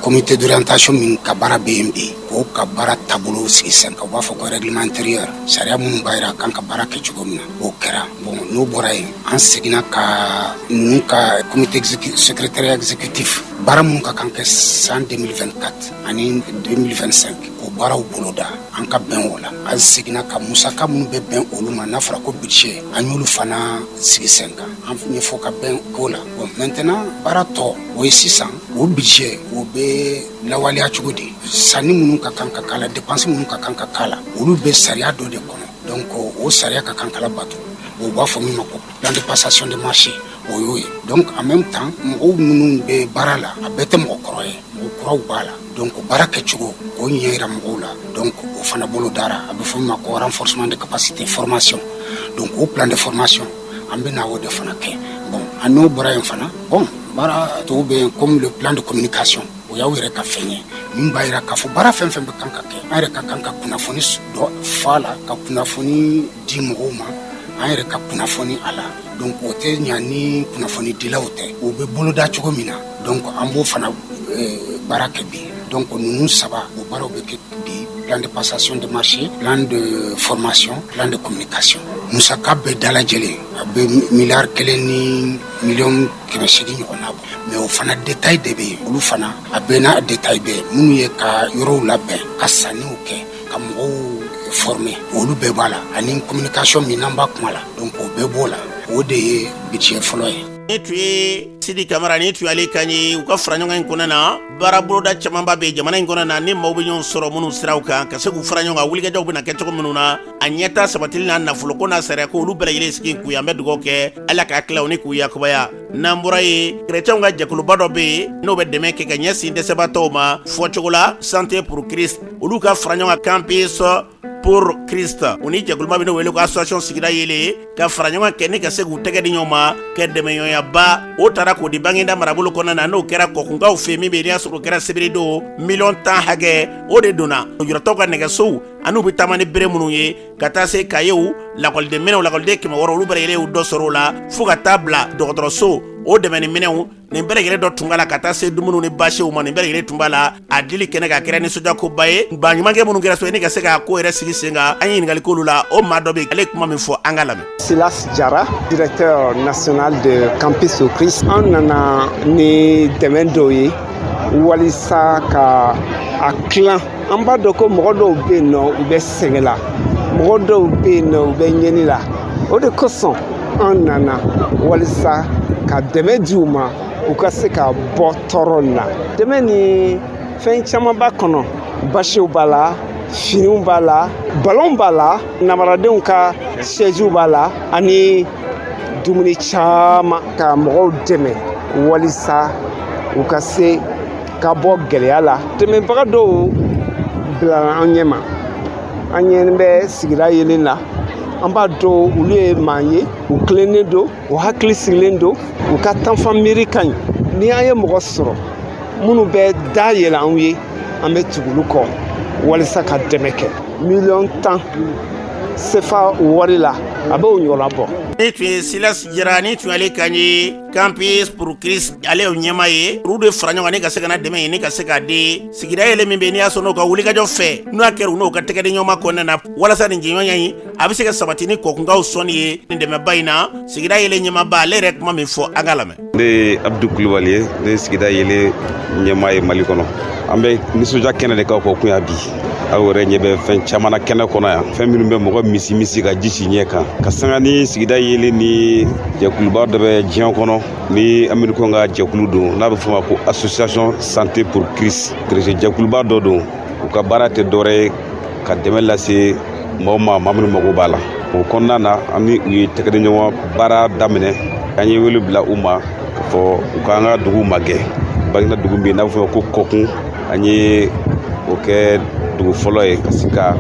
comité d'orientation min ka baara bɛ yen bi o ka baara taabolo sigi sen kan u b'a fɔ ko règlement intérieur sariya minnu b'a yira k'an ka baara kɛ cogo min na o kɛra bon n'o bɔra yen an seginna ka ninnu ka comité secrétariat exécutif baara minnu ka kan kɛ san 2024 ani 2025 o baaraw boloda an ka bɛn o la an seginna ka musaka minnu bɛ bɛn olu ma n'a fɔra ko budget an y'olu fana sigi sen kan an ɲɛfɔ ka bɛn ko la bon maintenant baara tɔ o ye sisan o budget o bɛ lawaleya cogo di sanni minnu ka kan ka k'a la dépense minnu ka kan ka k'a la olu bɛ sariya dɔ de kɔnɔ donc o sariya ka kan ka labato o b'a fɔ min ma ko plan de passation de marché o y'o ye donc en même temps mɔgɔw minnu bɛ baara la a bɛɛ tɛ mɔgɔ kɔrɔ ye mɔgɔ kuraw b'a la donc baara kɛcogo o ɲɛ yira mɔgɔw la donc o fana bolodara a bɛ fɔ min ma ko renforcement de capacité formation donc o plan de formation an bɛna o de fana kɛ bon an n'o bɔra yen fana bon baara tɔw bɛ yen comme le plan de communication o y'aw yɛrɛ ka fɛn ye min b'a yira k'a fɔ baara fɛn fɛn bɛ kan ka kɛ an yɛrɛ ka kan ka kunnafoni dɔ f'a la ka kunnafoni di mɔgɔw ma an yɛrɛ ka kunnafoni a la donc o tɛ ɲa ni kunnafoni dilaw tɛ o bɛ boloda cogo min na donc an b'o fana eh, baara kɛ bi donc ninnu saba o baaraw bɛ kɛ bi plan de passation de marché plan de formation plan de communication musaka bɛɛ dalajɛlen a bɛ miliyari kelen ni miliyɔn kɛmɛ seegin ɲɔgɔnna bɔ mais o fana détail de bɛ yen olu fana a bɛɛ n'a détail bɛɛ minnu ye ka yɔrɔw labɛn ka sanniw kɛ ka mɔgɔw former olu bɛɛ b'a la ani communication min n'an b'a kuma la donc o bɛɛ b'o la o de ye budget fɔlɔ ye nin tun ye sidi kamara nin tun y'ale kan ye u ka fara ɲɔgɔn in kɔnɔ na baara boloda camanba bɛ jamana in kɔnɔ na ni maaw bɛ ɲɔgɔn sɔrɔ minnu siraw kan ka se k'u fara ɲɔgɔn kan wulikajɔw bɛna kɛ cogo minnu na a ɲɛta sabatili n'a nafoloko n'a sariya ko olu bɛɛ lajɛlen sigi k'u ye an bɛ dugawu kɛ ala k'a tila u ni k'u yakubaya n'an bɔra yen kerecɛnw ka jɛkuluba dɔ bɛ yen n'o bɛ dɛmɛ kɛ ka ɲɛsin dɛsɛbatɔw ma fɔcogo la santé pour christ olu ka fara ɲɔgɔn kan campus pour christ u ni jɛkuluba bɛ n'o wele ko association sigida yeelen ka fara ɲɔgɔn kɛ ni ka se k'u tɛgɛ di ɲɔgɔn ma kɛ dɛmɛɲɔgɔnyaba o taara k'o di baginda marabolo kɔnɔna na n'o kɛra kɔkunkaw fɛ min bɛ n'i y'a sɔrɔ o kɛra sibiridon miliyɔn tan hakɛ o de donna lujuratɔw ka nɛgɛsow an'u bɛ taama ni bere minnu ye ka taa se kayew lakɔliden minɛnw lakɔliden kɛmɛ wɔɔrɔ olu bɛɛ lajɛlen y'u dɔ sɔrɔ o la fo ka taa bila dɔgɔtɔrɔso o dɛmɛni minɛnw nin bɛɛ lajɛlen dɔ tun b'a la ka taa se dumuni ni basiw ma nin bɛɛ lajɛlen tun b'a la a dili kɛnɛ kan a kɛra nisɔndiyakoba ye baɲumankɛ minnu kɛra so ni ka se k'a ko yɛrɛ sigi sen kan an ye ɲininkali k'olu la o maa dɔ bɛ ale kuma min fɔ an k'a lamɛn silas jara directeur national de campus au christ an nana ni dɛmɛ dɔw ye walisa k'a tilan an b'a dɔn ko mɔgɔ dɔw bɛ yen nɔ u bɛ sɛgɛn la mɔgɔ dɔw bɛ yen nɔ u bɛ ɲɛni la o de kosɔn an nana walisa ka dɛmɛ di u ma u ka se ka bɔ tɔɔrɔ na dɛmɛ nin fɛn caman b'a kɔnɔ basiw b'a la finiw b'a la balɔnw b'a la namaradenw ka sɛjiw b'a la ani dumuni caman ka mɔgɔw dɛmɛ walisa u ka se ka bɔ gɛlɛya la dɛmɛbaga dɔw bilala an ɲɛ ma an ɲɛ bɛ sigida yeelen la an b'a dɔn olu ye maa ye u tilennen don u hakili sigilen don u ka tanfan miiri ka ɲi ni an ye mɔgɔ sɔrɔ minnu bɛ da yɛlɛ anw ye an bɛ tugu olu kɔ walisa ka dɛmɛ kɛ miliyɔn tan sefa wari la a b'o ɲɔgɔnna bɔ. nin tun ye silas jara nin tun y'ale kan ye campus pour christ ale y'o ɲɛmaa ye olu de fara ɲɔgɔn na ka se ka na dɛmɛ ɲini ka se k'a di sigida yeelen min bɛ n'i y'a sɔrɔ n'o ka wulikajɔ fɛ n'o y'a kɛra u n'o ka tɛgɛdiɲɔgɔnma kɔnɔna na walasa nin jɛɲɔgɔnya in a bɛ se ka sabati ni kɔkunkaw sɔnni ye nin dɛmɛba in na sigida yeelen ɲɛmaaba ale yɛrɛ kuma min fɔ an k'a lamɛn ne ye abdu kulubali ye ne ye sigida yeelen ɲɛmaa ye mali kɔnɔ an bɛ nisɔndiya kɛnɛ de kan kɔkun yan bi aw yɛrɛ ɲɛ bɛ fɛn caman na kɛnɛ kɔnɔ yan fɛn minnu bɛ mɔgɔ misi misi ka ji si ɲɛ kan ka sanga ni sigida yeelen ni jɛkuluba dɔ bɛ diɲɛ kɔnɔ ni amerikɛnw ka jɛkulu don n'a bɛ fɔ a ma ko association santé pour christ kerecɛn jɛkuluba dɔ don u ka baara tɛ dɔwɛrɛ ye ka dɛmɛ lase mɔgɔw ma maa minnu mago b'a la o kɔnɔna na an ni u ye tɛgɛdiɲɔgɔn baara daminɛ an ye wele bila u ma k'a fɔ u k'an ka dugu magɛn baginda dugu min n'a bɛ fɔ a ma ko kɔkun an ye o kɛ dugu fɔlɔ ye ka se ka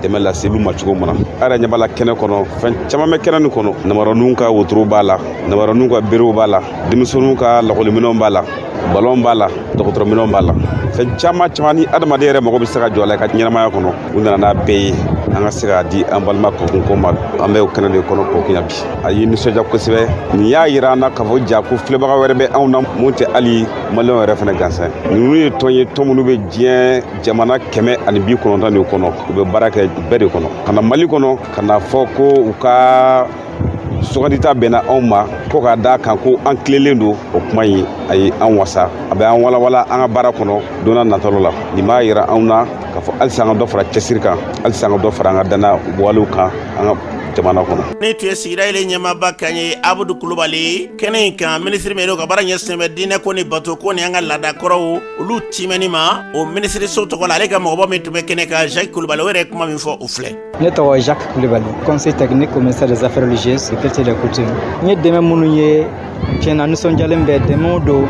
dɛmɛ lase olu ma cogo min na a yɛrɛ ɲɛ b'a la kɛnɛ kɔnɔ fɛn caman bɛ kɛnɛ nin kɔnɔ namaraninw ka wotorow b'a la namaraninw ka berew b'a la denmisɛnninw ka lakɔliminɛnw b'a la balɔn b'a la dɔgɔtɔrɔminɛnw b'a la fɛn caman caman ni adamaden yɛrɛ mago bɛ se ka jɔ a la i ka ɲɛnamaya kɔnɔ u nana n'a bɛɛ ye an ka se k'a di an balima kɔkunkaw ma an bɛ o kɛnɛ de kɔnɔ kɔkun yan bi a ye nisɔndiya kosɛbɛ nin y'a yira an na k'a fɔ ja ko filɛbaga wɛrɛ bɛ anw na min tɛ hali maliyɛnw yɛrɛ fana gansan ninnu ye tɔn ye tɔn minnu bɛ diɲɛ jamana kɛmɛ ani bi kɔnɔntɔn de kɔnɔ u bɛ baara kɛ bɛɛ de kɔnɔ ka na mali kɔnɔ ka na fɔ ko u ka sugandita bɛnna anw ma ko k'a da kan ko an tilelen don o kuma in a ye an wasa a bɛ an walawala an ka baara kɔnɔ don nataw la nin b'a yira anw na k'a fɔ halisa an ka dɔ fara cɛsiri kan halisa an ka dɔ fara an ka dannaya walew kan an ka jamana kɔnɔ nin tun ye sigida yeelen ɲɛmaaba kan ye abudu kulubali kɛnɛ in kan minisiri min ka baara ɲɛsinnen bɛ diinɛ ko ni bato ko ni an ka laada kɔrɔw olu timɛni ma o minisiriso tɔgɔ la ale ka mɔgɔbɔ min tun bɛ kɛnɛ kan jacques kulubali o yɛrɛ kuma min fɔ o filɛ ne tɔgɔ jacques kulubali conseiller technique au ministère des affaires religieuses du culte et des coutumes n ye dɛmɛ minnu ye tiɲɛ na nisɔndiyalen bɛ dɛmɛw don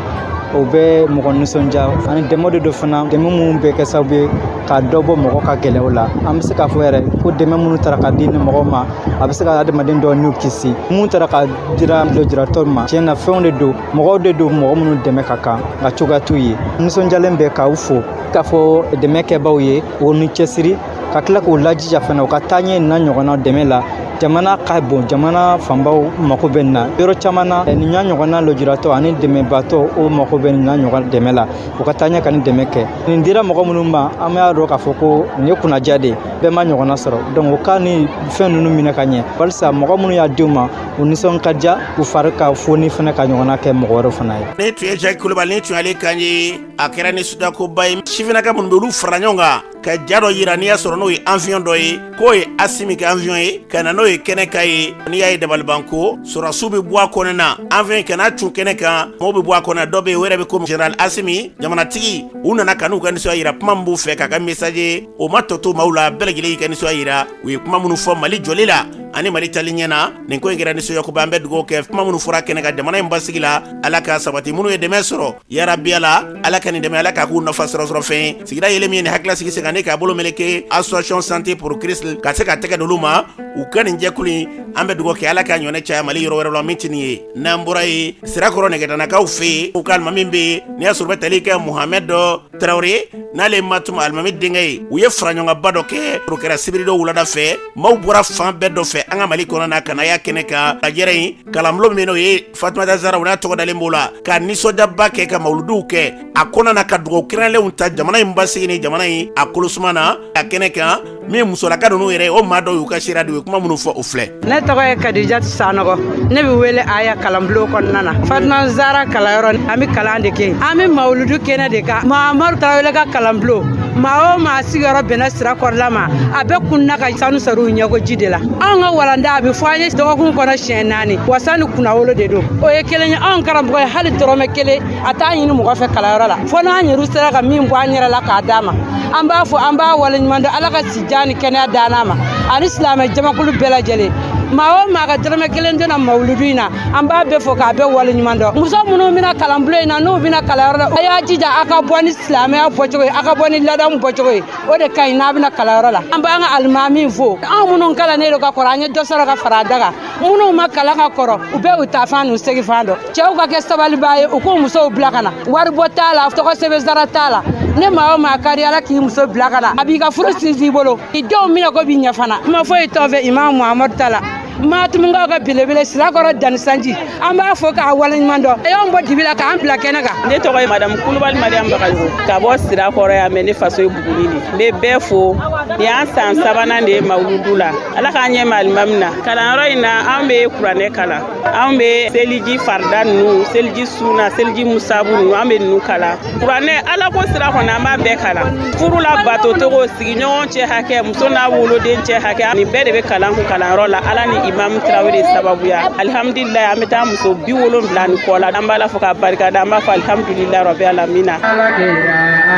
o bɛ mɔgɔ nisɔndiya ani dɛmɛ de don fana dɛmɛ minnu bɛ kɛ sababu ye ka dɔ bɔ mɔgɔ ka gɛlɛyaw la an bɛ se k'a fɔ yɛrɛ ko dɛmɛ minnu tara ka di nin mɔgɔw ma a bɛ se ka adamaden dɔw ni kisi minnu tara ka dira lujuratɔw ma tiɲɛ na fɛnw de don mɔgɔw de don mɔgɔ minnu dɛmɛ ka kan nka cogoya t'u ye nisɔndiyalen bɛ k'aw fo k'a fɔ dɛmɛ kɛbaaw ye o ni cɛsiri ka tila k'u lajija fana u ka taaɲɛ nin ɲɔgɔnna dɛmɛ la jamana ka bon jamana fanba mako bɛ nin na yɔrɔ caman na eh, nin ɲa ɲɔgɔnna lujuratɔ ani dɛmɛbaatɔ o mako bɛ nin na ɲɔgɔn dɛmɛ la u ka taaɲɛ ka nin dɛmɛ kɛ nin dira mɔgɔ minnu ma an b'a dɔn k'a fɔ ko nin ye kunnandiya de ye bɛɛ ma ɲɔgɔnna sɔrɔ donc u ka nin fɛn ninnu minɛ ka ɲɛ walisa mɔgɔ minnu y'a d'u ma u nisɔn ka diya u fari ka foni fana ka ɲɔgɔnna kɛ mɔgɔ wɛrɛ fana ye nin tun ye jaki kulubali nin tun y'ale kan ye a kɛra nisɔndiyakoba ye sifinaka minnu bɛ olu fara ɲɔgɔn kan ka ja dɔ yira n'i y'a sɔrɔ n'o ye avion dɔ ye k'o ye asimi ka avion ye ka na n'o ye kɛnɛ kan yen n'i y'a ye dabalibanko sɔrɔdasiw bɛ bɔ a kɔnɔ na avion ka na cun kɛnɛ kan mɔgɔw bɛ bɔ a kɔnɔ dɔ bɛ yen o yɛrɛ bɛ ko général asimi jamanatigi u nana ka n'u ka nisɔndiya yira kuma min b'u fɛ k'a ka message o ma tɔ to maaw la bɛɛ lajɛlen y'u ka nisɔndiya jira u ye kuma minnu fɔ mali jɔli la ani mali taali ɲɛ na nin ko in kɛra nisɔndiyakoba an bɛ dugawu kɛ kuma minnu fɔra kɛnɛ kan jamana in basigi la ala ka sabati minnu ye dɛmɛ sɔrɔ yarabi ala ala ka nin dɛmɛ ala k'a k'u nafa sɔrɔsɔrɔ fɛn sigida yeelen min ye nin hakila sigi sen kan k'a bolo meleke association santé pour christ ka se ka tɛgɛ d'olu ma u ka nin jɛkulu in an bɛ dugawu kɛ ala k'a ɲɔgɔn caya mali yɔrɔ wɛrɛ la min tɛ nin ye n'an bɔra yen sirakɔrɔ megetanakaw fɛ yen u ka alimami bɛ yen n'i y'a sɔrɔ u bɛ tali kɛ muhamɛd dɔ tarawele n'ale ye matuma alimami denkɛ ye u ye faraɲɔgɔnba dɔ kɛ o kɛra sibiridon wulada fɛ maaw bɔra fan bɛɛ dɔ fɛ an ka mali kɔnɔ na ka na y'a kɛnɛ kan lajɛrɛ in kalanbulon min n'o ye fatumata zara u n'a tɔgɔ dalen b'o la ka nisɔndiyaba kɛ ka mawuludiw kɛ a kɔnɔna na ka dugawu kɛrɛnlɛnw ta jamana in basigi ni jamana in a kolosuma na a kɛnɛ kan min musolaka ninnu yɛrɛ o maa dɔw y'u ka seereya di u ye kuma minnu fɔ o filɛ ne tɔgɔ ye kadijatu sanɔgɔ ne bɛ wele aya kalanbulon kɔnɔna na fatima zara kalanyɔrɔ an bɛ kalan de kɛ an bɛ mawuludu kɛnɛ de kan mahamadu tarawele ka kalanbulon maa o maa sigiyɔrɔ bɛnna sirakɔrɔla ma a bɛ kunun ka sanu sɔrɔ u ɲɛkoji de la anw ka walanda a bɛ fɔ an ye dɔgɔkun kɔnɔ siɲɛ naani wasa ni kunnawolo de don o ye kelen ye anw karamɔgɔ ye hali dɔrɔmɛ kelen a t'a ɲini mɔgɔ fɛ kalanyɔrɔ la fo n'an yɛrɛ sera ka min bɔ an yɛrɛ la k'a d'a ma an b'a fo an b'a waleɲuman dɔn ala ka sijan ni kɛnɛya d'an n'a ma ani silamɛ jamakulu bɛɛ lajɛlen maa o maa ka dɔrɔmɛ kelen donna mawuludu in na an b'a bɛɛ fo k'a bɛɛ waleɲuman dɔn muso minnu bɛ na kalanbulon in na n'u bɛ na kalanyɔrɔ la a y'a jija a ka bɔ ni silamɛya bɔcogo ye a ka bɔ ni ladamu bɔcogo ye o de ka ɲi n'a bɛ na kalanyɔrɔ la an b'an ka alimami fo anw minnu kalannen don ka kɔrɔ an ye dɔ sɔrɔ ka fara a da kan minnu ma kalan ka kɔrɔ u bɛ u taa fan n'u segin fan dɔn cɛw ka kɛ sabaliba ye u k'u musow bila ka na waribɔ t'a la tɔgɔ sɛbɛn sara t'a la ni maa o maa kari ala k'i muso bila ka na a b'i ka furu sinsin i bolo i denw minɛko bɛ ɲɛ fana kuma foyi t'an fɛ imam muhamadu ta la matumakaw ka belebele sirakɔrɔ dannisanji an b'a fo k'a waleɲuman dɔn a y'an bɔ dibi la k'an bila kɛnɛ kan ne tɔgɔ ye madamu kulubali mariyamu bagayogo ka bɔ sirakɔrɔ yan mɛ ne faso ye buguni de n bɛ bɛɛ fo nin y'an san sabanan de ye mawuludu la ala k'an ɲɛmaa limamu na kalanyɔrɔ in na an bɛ kuranɛ kalan an be seliji farida nunu seliji suna seliji musabu nunu an be nunu kalan kuranɛ ala ko sira kɔni an b'a bɛɛ kalan furu labatocogo sigiɲɔgɔn cɛ hakɛ muso n'a woloden cɛ hakɛ nin bɛɛ de be kalan an kun kalanyɔrɔ la ala ni imamu tarawele sababuya alhamdulilayi an be taa muso bi wolonwula ni kɔ la an b'ala fo ka barika da an b'a fɔ alhamdulilayi rabi alamina ala,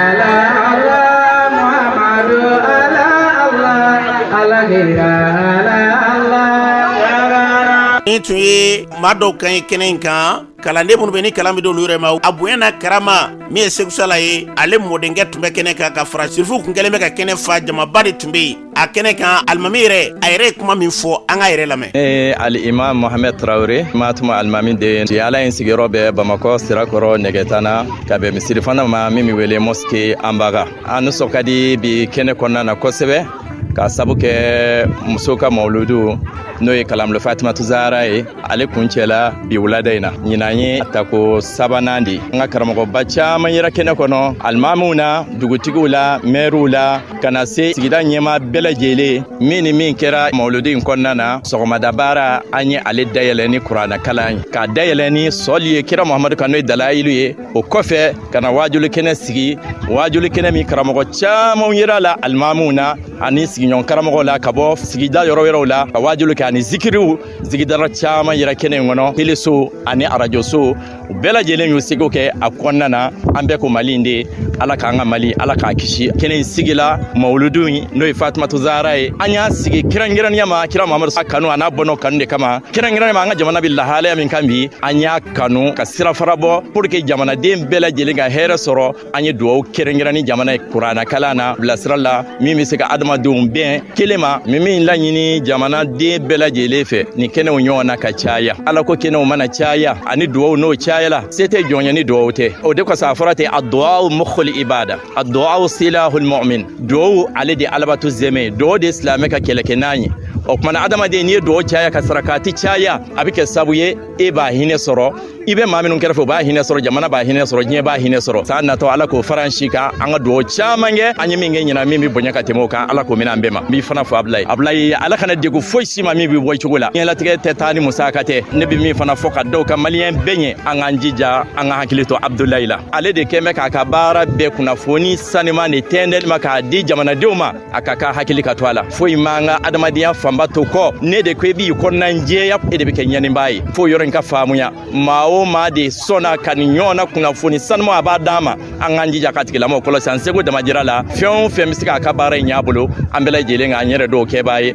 ala, ala, Muhammadu, ala. Nin tun ye maa dɔw kan ye kɛnɛ in kan kalanden minnu bɛ ni kalan bɛ d'olu yɛrɛ ma a bonya n'a karama min ye seku sala ye ale mɔdenkɛ tun bɛ kɛnɛ kan ka fara sirifu tun kɛlen bɛ ka kɛnɛ fa jamaba de tun bɛ yen a kɛnɛ kan alimami yɛrɛ a yɛrɛ ye kuma min fɔ an k'a yɛrɛ lamɛn ne ye alimamu mohamɛd tarawele matuma alimami den si ala in sigiyɔrɔ bɛ bamakɔ sirakɔrɔ nɛgɛtana ka bɛn misiri fana ma min bɛ wele mɔsike anbaga an nisɔn ka di bi kɛnɛ kɔnɔna na kosɛbɛ k'a sabu kɛ muso ka mawuludu n'o ye kalanbulon fatimatu zahara ye ale kuncɛla bi wulada in na ɲinan ye tako sabanan de an ka karamɔgɔba caaman yera kɛnɛ kɔnɔ alimamiw na dugutigiw la mɛriw la ka na se sigida ɲɛmaa bɛɛ lajɛlen min ni min kɛra mawuludu in kɔnɔna na sɔgɔmada baara an ye ale dayɛlɛ ni kuranɛ kalan ye k'a dayɛlɛ ni sɔli ye kira muhamadu kan n'o ye dalayilu ye o kɔfɛ ka na waajuli kɛnɛ sigi waajuli kɛnɛ min karamɔgɔ camanw yera la alimamuw na ani sigiɲɔgɔn karamɔgɔw la ka bɔ sigida yɔrɔ wɛrɛw la ka waajuli kɛ ani zikiriw zikiridala caman yera kɛnɛ in kɔnɔ teleso ani arajoso u bɛɛ lajɛlen y'u seko kɛ a kɔnɔna na an bɛɛ ko mali in de ala k'an ka mali ala k'a kisi kɛnɛ in sigila mawuludu in n'o ye fatumatu zahara ye an y'a sigi kɛrɛnkɛrɛnnenya ma kira mamadu sa kanu a n'a bɔnna kanu de kama kɛrɛnkɛrɛnnenya ma an ka jamana bɛ lahalaya min kan bi an y'a kanu ka sira fara bɔ pour que jamanaden bɛɛ lajɛlen ka hɛrɛ sɔrɔ an ye dugawu kɛrɛnkɛrɛn ni jamana ye kurana kalan na bilasira la min bɛ se ka adamadenw bɛn kelen ma min min laɲini jamanaden bɛɛ lajɛlen fɛ nin kɛnɛw ɲɔgɔnna ka caya ala ko kɛnɛw mana caya ani dugawu n'o cayala se tɛ jɔn ye ni dugawu tɛ o de kosɔn a fɔra ten ad-du'a mukhul ibada ad-du'a silahul mu'min dugawu ale de alabato zɛmɛ ye dugawu de silamɛ ka kɛlɛkɛnan ye o kumana adamaden n'i ye dugawu caya ka sarakati caya a bɛ kɛ sabu ye e b'a hinɛ sɔrɔ i bɛ maa minnu kɛrɛfɛ u b'a hinɛ sɔrɔ jamana b'a hinɛ sɔrɔ diɲɛ b'a hinɛ sɔrɔ san natɔ ala k'o fara an si kan an ka dugawu caman kɛ an ye min kɛ ɲinan min bɛ bonya ka tɛmɛ o kan ala k'o minɛ an bɛɛ ma n b'i fana fo abulayi abulayi ala kana degun foyi si ma min bɛ bɔ i cogo la diɲɛlatigɛ tɛ taa ni musaka tɛ ne bɛ min fana fɔ ka da o kan maliyɛn bɛɛ ɲɛ an k'an jija an ka hakili to abudulayi la ale de kɛn bɛ k'a ka baara bɛɛ kunnafoni saniman de tɛntɛli ma k'a di jamanadenw ma a ka ka hakili ka to a la foyi m'an ka adamadenya fanba to kɔ nin de kɔ i b'i kɔnɔna jɛya e de bɛ kɛ ɲɛnibaa ye fo yɔrɔ in ka faamuya maa o maa de sɔnna ka nin ɲɔgɔnna kunnafoni saniman a b'a d'an ma an k'an jija k'a tigilamɔgɔ kɔlɔsi an seko damajira la fɛn o fɛn bɛ se k'a ka baara in ɲɛ a bolo an bɛɛ lajɛlen k'an yɛrɛ dɔw kɛbaa ye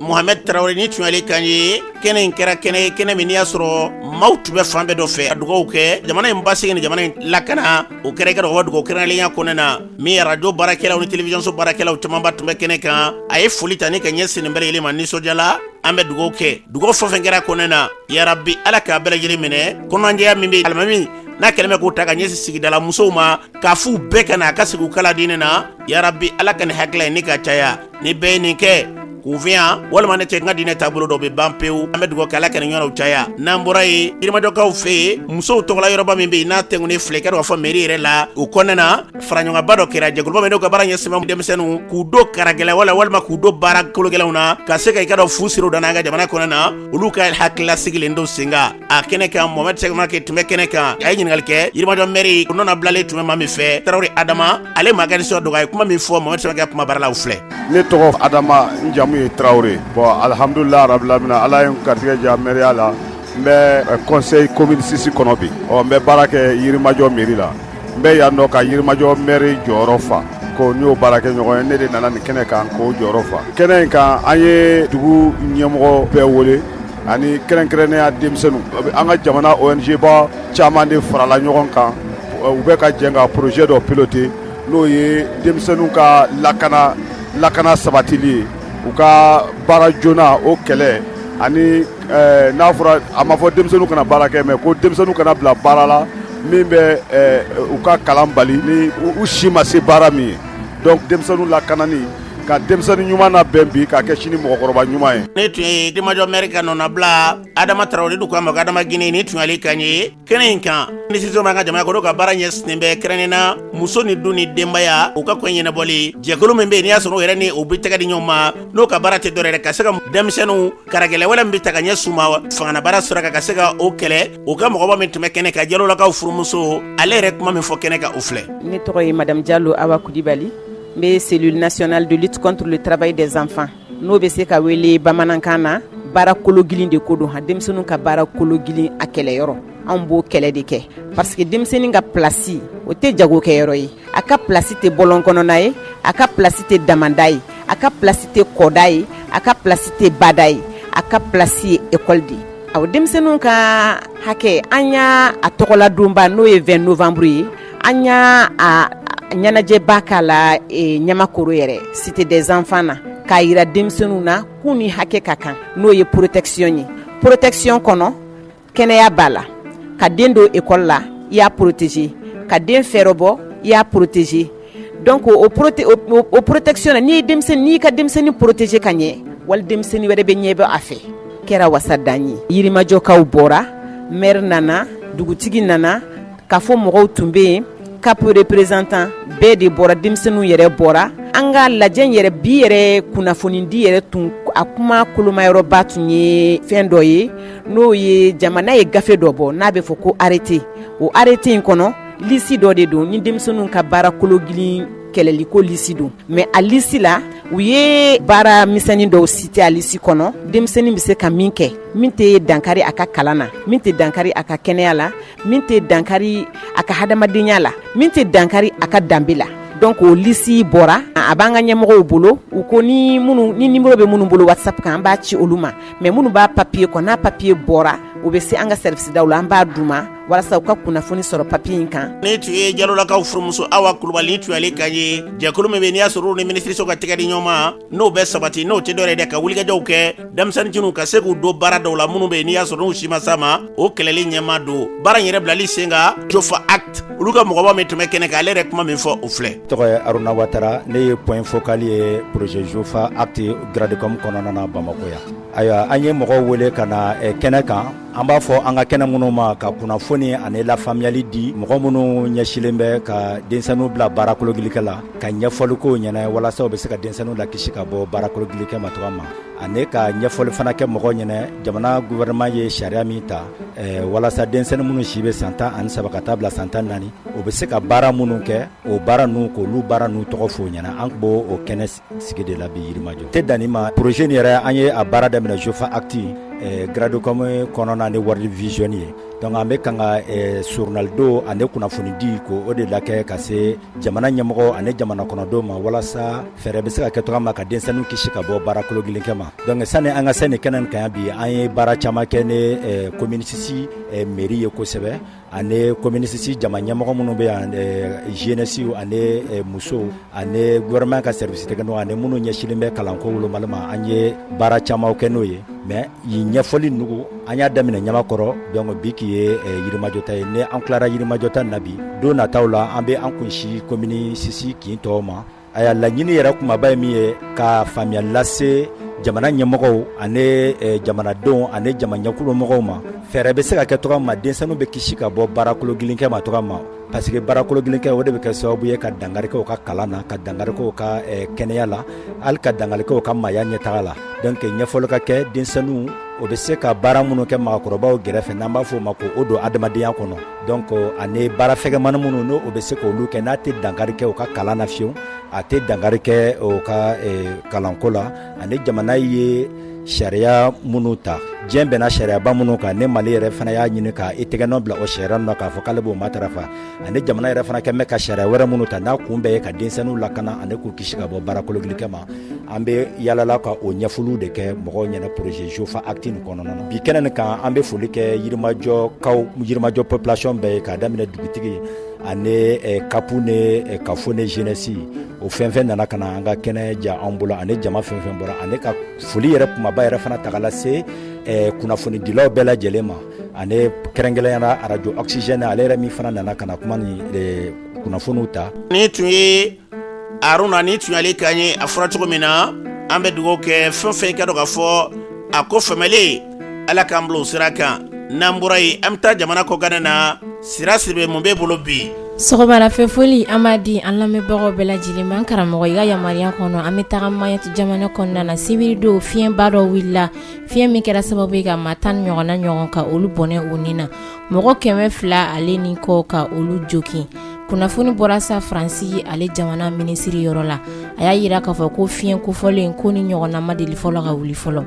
Mohamɛd tarawele nin tun y'ale kan ye kɛnɛ in kɛra kɛnɛ ye kɛnɛ min n'i y'a sɔrɔ maaw tun bɛ fan bɛɛ dɔ fɛ ka dugawu kɛ jamana in basigi ni jamana in lakana o kɛra i k'a dɔn ko dugawu kɛrɛnkɛrɛnnenya kɔnɔna na min radio baarakɛlaw ni télévision so baarakɛlaw camanba tun bɛ kɛnɛ kan a ye foli ta ni ka ɲɛsin nin bɛɛ lajɛlen ma nisɔndiya la an bɛ dugawu kɛ dugawu fɛn o fɛn kɛra kɔnɔna na yarabi ala k'a bɛɛ lajɛlen minɛ kɔnɔjɛya min bɛ alimami n'a kɛlen bɛ k'o ta ka ɲɛsin sigidala musow ma k'a f'u bɛɛ ka na a ka sigi u kalan diinɛ na yarabi ala ka nin hakilila ye ne ka caya ni bɛɛ ye nin kɛ kunfinya walima ne tɛ n ka diinɛ taabolo dɔn bɛ ban pewu an bɛ dugawu kɛ ala ka nin ɲɔgɔnnaw caya n'an bɔra yen yirimajɔkaw fɛ yen musow tɔgɔla yɔrɔba min bɛ yen n'a tɛŋunen filɛ i k'a dɔn k'a fɔ mɛri yɛrɛ la o kɔnɔna na faraɲɔgɔnkanba dɔ kɛra jɛkuluba min n'u ka baara ɲɛsinnen bɛ denmisɛnninw k'u don karagɛlɛ wala walima k'u don baara kologɛlɛnw na ka se ka i k'a dɔn fu siri u dan n'an ka jamana kɔnɔna na olu ka hakilila sigilen don sen kan a kɛnɛ kan mohamɛd sɛgɛmake tun bɛ kɛnɛ kan a ye ɲininkali kɛ yirimajɔ mɛri o nɔna bilalen tun bɛ maa min fɛ tarawele adama ale m'a ka nisɔndiya dogo a ye kuma min fɔ mohamɛd sɛgɛmake kumabara la u filɛ ne tɔgɔ adama n jamu ye tarawele bon alhamdulilah rabil alamina ala ye n garijɛgɛ diya mɛriya la n bɛ eh, conseil commune six kɔnɔ bi ɔ n bɛ baara kɛ yirimajɔ mɛri la n bɛ yan nɔ ka yirimajɔ mɛri jɔyɔrɔ fa ko n y'o baarakɛɲɔgɔn ye ne de nana nin kɛnɛ kan k'o jɔyɔrɔ fa kɛnɛ in kan an ye dugu ɲɛmɔgɔ bɛɛ wele ani kɛrɛnkɛrɛnnenya denmisɛnninw an ka jamana ONGba caman de farala ɲɔgɔn kan u bɛ ka jɛn ka projet dɔ piloter n'o ye denmisɛnninw ka lakana lakana sabatili ye u ka baara joona o kɛlɛ ani eh, n'a fɔra a ma fɔ denmisɛnninw kana baara kɛ mais ko denmisɛnninw kana bila baara la min bɛ eh, u ka kalan bali ni u si ma se baara min ye donc denmisɛnninw lakanani ka denmisɛnnin ɲuman labɛn bi k'a kɛ sini mɔgɔkɔrɔba ɲuman ye ni tun ye yirimajɔ mɛri ka nɔnabila adama tarawele dɔw k'a ma ko adama gine ni tun y'ale kan ye kɛnɛ in kan minisiriso b'an ka jamana kɔnɔ ka baara ɲɛsinnen bɛ kɛrɛnnen na muso ni du ni denbaya u ka ko ɲɛnabɔli jɛkulu min bɛ yen n'i y'a sɔrɔ o yɛrɛ ni o bɛ tɛgɛ di ɲɔgɔn ma n'o ka baara tɛ dɔwɛrɛ ka se ka denmisɛnninw karagɛlɛ wale min bɛ taa ka ɲɛsin u ma fangana baara sira kan ka se ka o kɛlɛ o ka mɔgɔba min tun bɛ kɛnɛ kan jalolakaw furumuso ale yɛrɛ kuma min fɔ kɛnɛ kan o filɛ ne tɔgɔ ye madamu jalo awa kulubali n bɛ cellule nationale de lutte contre le travail des enfants n'o bɛ se ka wele bamanankan na baara kologilin de ko don ha denmisɛnninw ka baara kologilin a kɛlɛyɔrɔ anw b'o kɛlɛ de kɛ parce que denmisɛnnin ka pilasi o tɛ jagokɛyɔrɔ ye a ka pilasi tɛ bɔlɔn kɔnɔna ye a ka pilasi tɛ damanda ye a ka pilasi tɛ kɔda ye a ka pilasi tɛ bada ye a ka pilasi ye ekɔli de ye aw denmisɛnninw ka hakɛ an y'a a tɔgɔladonba n'o ye 20 novembre ye an y'a a ɲɛnajɛba k'a la e, ɲamakoro yɛrɛ cité des enfants na k'a yira denmisɛnninw na k'u ni hakɛ ka kan n'o ye porotɛkisiyɔn ye porotɛkisiyɔn kɔnɔ kɛnɛya b'a la ka den don ekɔli la i y'a poroteze ka den fɛɛrɛbɔ i y'a poroteze donc o prote o, o, o protection na n'i ye denmisɛnnin n'i ka denmisɛnnin protéger ka ɲɛ wali denmisɛnnin wɛrɛ bɛ ɲɛ bɔ a fɛ kɛra wasa dan ye yirimajɔkaw bɔra mɛri nana dugutigi nana CAFO mɔgɔw tun bɛ yen CAP représentant bɛɛ de bɔra denmisɛnninw yɛrɛ bɔra an ka lajɛ yɛrɛ bi yɛrɛ kunnafonidi yɛrɛ tun a kuma kolomayɔrɔba tun ye fɛn dɔ ye n'o ye jamana ye gafe dɔ bɔ n'a bɛ fɔ ko arete o arete in kɔnɔ lisi dɔ de don ni denmisɛnninw ka baara kologilin kɛlɛliko lisi don mɛ a lisi la u ye baara misɛnnin dɔw citer a lisi kɔnɔ denmisɛnnin bɛ se ka min kɛ min tɛ dankari a ka kalan na min tɛ dankari a ka kɛnɛya la min tɛ dankari a ka hadamadenya la min tɛ dankari a ka danbe la donc o lisi bɔra a b'an ka ɲɛmɔgɔw bolo u ko ni minnu ni nimero bɛ minnu bolo whatsapp kan an b'a ci olu ma mɛ minnu b'a papiye kɔ n'a papiye bɔra u bɛ se an ka sɛriwisidaw la an b'a d'u ma walasa u ka kunnafoni sɔrɔ papiye in kan ni tun ye jalolakaw furumuso awa kulubali ni tun y'ale kan ye jɛkulu min bɛ n'i y'a sɔrɔ u ni minisiriso ka tɛgɛ di ɲɔgɔn ma n'o bɛ sabati n'o tɛ dɔwɛrɛ dɛ ka wulikajɔw kɛ denmisɛnninw ka se k'u don baara dɔw la minnu bɛ yen n'i y'a sɔrɔ n'u si ma s'a ma o kɛlɛli ɲɛma don baara in yɛrɛ bilali sen kan jofa act olu ka mɔgɔba min tun bɛ kɛnɛ kan ale yɛrɛ kuma min fɔ o filɛ tɔgɔ ye aruna watara ne ye point focal ye projet jofa act gradecom kɔnɔna na bamakɔ yan ayiwa an ye mɔgɔw wele ka na kɛnɛ kan an b'a fɔ an ka kɛnɛ minnu ma ka kunnafoni ani lafaamuyali di mɔgɔ minnu ɲɛsilen bɛ ka denmisɛnninw bila baarakologilikɛ la ka ɲɛfɔli k'u ɲɛna walasa u bɛ se ka denmisɛnninw lakisi ka bɔ baarakologilikɛ ma cogoya min ani ka ɲɛfɔli fana kɛ mɔgɔw ɲɛna jamana gouvernement ye sariya min ta eh, walasa denmisɛnnin minnu si bɛ san tan ani saba ka taa bila san tan naani o bɛ se ka baara minnu kɛ o baara ninnu k'olu baara ninnu tɔgɔ f'u ɲɛna an tun b'o o kɛnɛ sigi de la bi yirimajɔ tɛ danni ma projet nin yɛrɛ an ye a baara daminɛ jofa acte eh, gradecom kɔnɔna ni world vision ye donc an bɛ kan ka eh, soronadon ani kunnafonidi ko o de lakɛ ka se jamana ɲɛmɔgɔw ani jamana kɔnɔdenw ma walasa fɛɛrɛ bɛ se ka kɛ cogoya min na ka denmisɛnninw kisi ka bɔ baara kologilin kɛ ma donc sani an ka se nin kɛnɛ nin kan bi an ye baara caman kɛ ni eh, komini sisi eh, meri ye kosɛbɛ ani komini sisi jama ɲɛmɔgɔ minnu bɛ yan zenɛsiw ani musow ani gouvernement ka service technique ani minnu ɲɛsinlen bɛ kalanko wolomali ma an ye baara caman kɛ n'o ye mais yin ɲɛfɔli nugu an y'a daminɛ ɲamakɔrɔ donc bi k'i ye yirimajɔ ta ye ni an tilara yirimajɔ ta na bi don nataw la an bɛ an kunsin komini sisi kin tɔw ma a y'a laɲini yɛrɛ kumaba ye min ye ka faamuya lase jamana ɲɛmɔgɔw ani eh, jamanadenw ani jamaɲɛkulomɔgɔw ma fɛɛrɛ bɛ se ka kɛ cogoya min na denmisɛnninw bɛ kisi ka bɔ baara kologilin kɛ ma cogoya min na parce que baara kologilin kɛ o de bɛ kɛ sababu ye ka dankari kɛ u ka kalan na ka dankari kɛ u ka eh, kɛnɛya la hali ka dankari kɛ u ka maaya ɲɛtaga la donc ɲɛfɔli ka kɛ denmisɛnninw o bɛ se ka baara minnu kɛ maakɔrɔbaw gɛrɛfɛ n'an b'a fɔ o ma ko o don adamadenya kɔnɔ donc ani baara fɛgɛmani minnu n'o bɛ se k'olu kɛ n'a tɛ dankari kɛ u ka kalan na fiyewu a tɛ dankari kɛ u ka e, kalanko la ani jamana ye sariya minnu ta diɲɛ bɛnna sariyaba minnu kan ni mali yɛrɛ fana y'a ɲini ka i tɛgɛnɔ bila o sariya ninnu na k'a fɔ k'ale b'o matarafa ani jamana yɛrɛ fana kɛmɛ ka sariya wɛrɛ minnu ta n'a kun bɛɛ ye ka denmisɛnninw lakana ani k'u kisi ka bɔ baara kologilin kɛ ma an bɛ yaala la ka o ɲɛfɔliw de kɛ mɔgɔw ɲɛna projet jofa acte nin kɔnɔna na bi kɛnɛ nin kan an bɛ foli kɛ yirimajɔkaw yirimajɔ population bɛɛ ye k'a daminɛ dugutigi ani eh, kapu ni eh, kafo ni jeunesse o fɛn fɛn nana ka na an ka kɛnɛ diya an bolo ani jama fɛn fɛn bɔra ani ka foli yɛrɛ kumaba yɛrɛ fana taga lase eh, kunnafonidilaw bɛɛ lajɛlen ma ani kɛrɛnkɛrɛnya na arajo oxygène ale yɛrɛ min fana nana ka na kuma ni kunnafoniw ta nin tun ye aruna nin tun y'ale kan ye a fɔra cogo min na an bɛ dugawu kɛ fɛn fɛn i k'a dɔn k'a fɔ a ko fɛmɛlen ala k'an bila o sira kan n'an bɔra yen an bɛ taa jamana kɔkanna na sira siribe mun b'e bolo bi sɔgɔmada fɛ foli an b'a di an lamɛnbagaw bɛɛ lajɛlen ma an karamɔgɔ i ka yamaruya kɔnɔ an bɛ taga mayotte jamana kɔnɔna na sibiri don fiɲɛba dɔ wulila fiɲɛ min kɛra sababu ye ka maa tan ɲɔgɔnna ɲɔgɔn ka olu bɔnɛ u ni na mɔgɔ kɛmɛ fila ale ni kɔ ka olu jogin kunnafoni bɔra sa faransi ale jamana minisiri yɔrɔ la a y'a yira k'a fɔ ko fiɲɛ kofɔlen ko nin ɲɔgɔnna ma deli fɔlɔ ka wuli fɔlɔ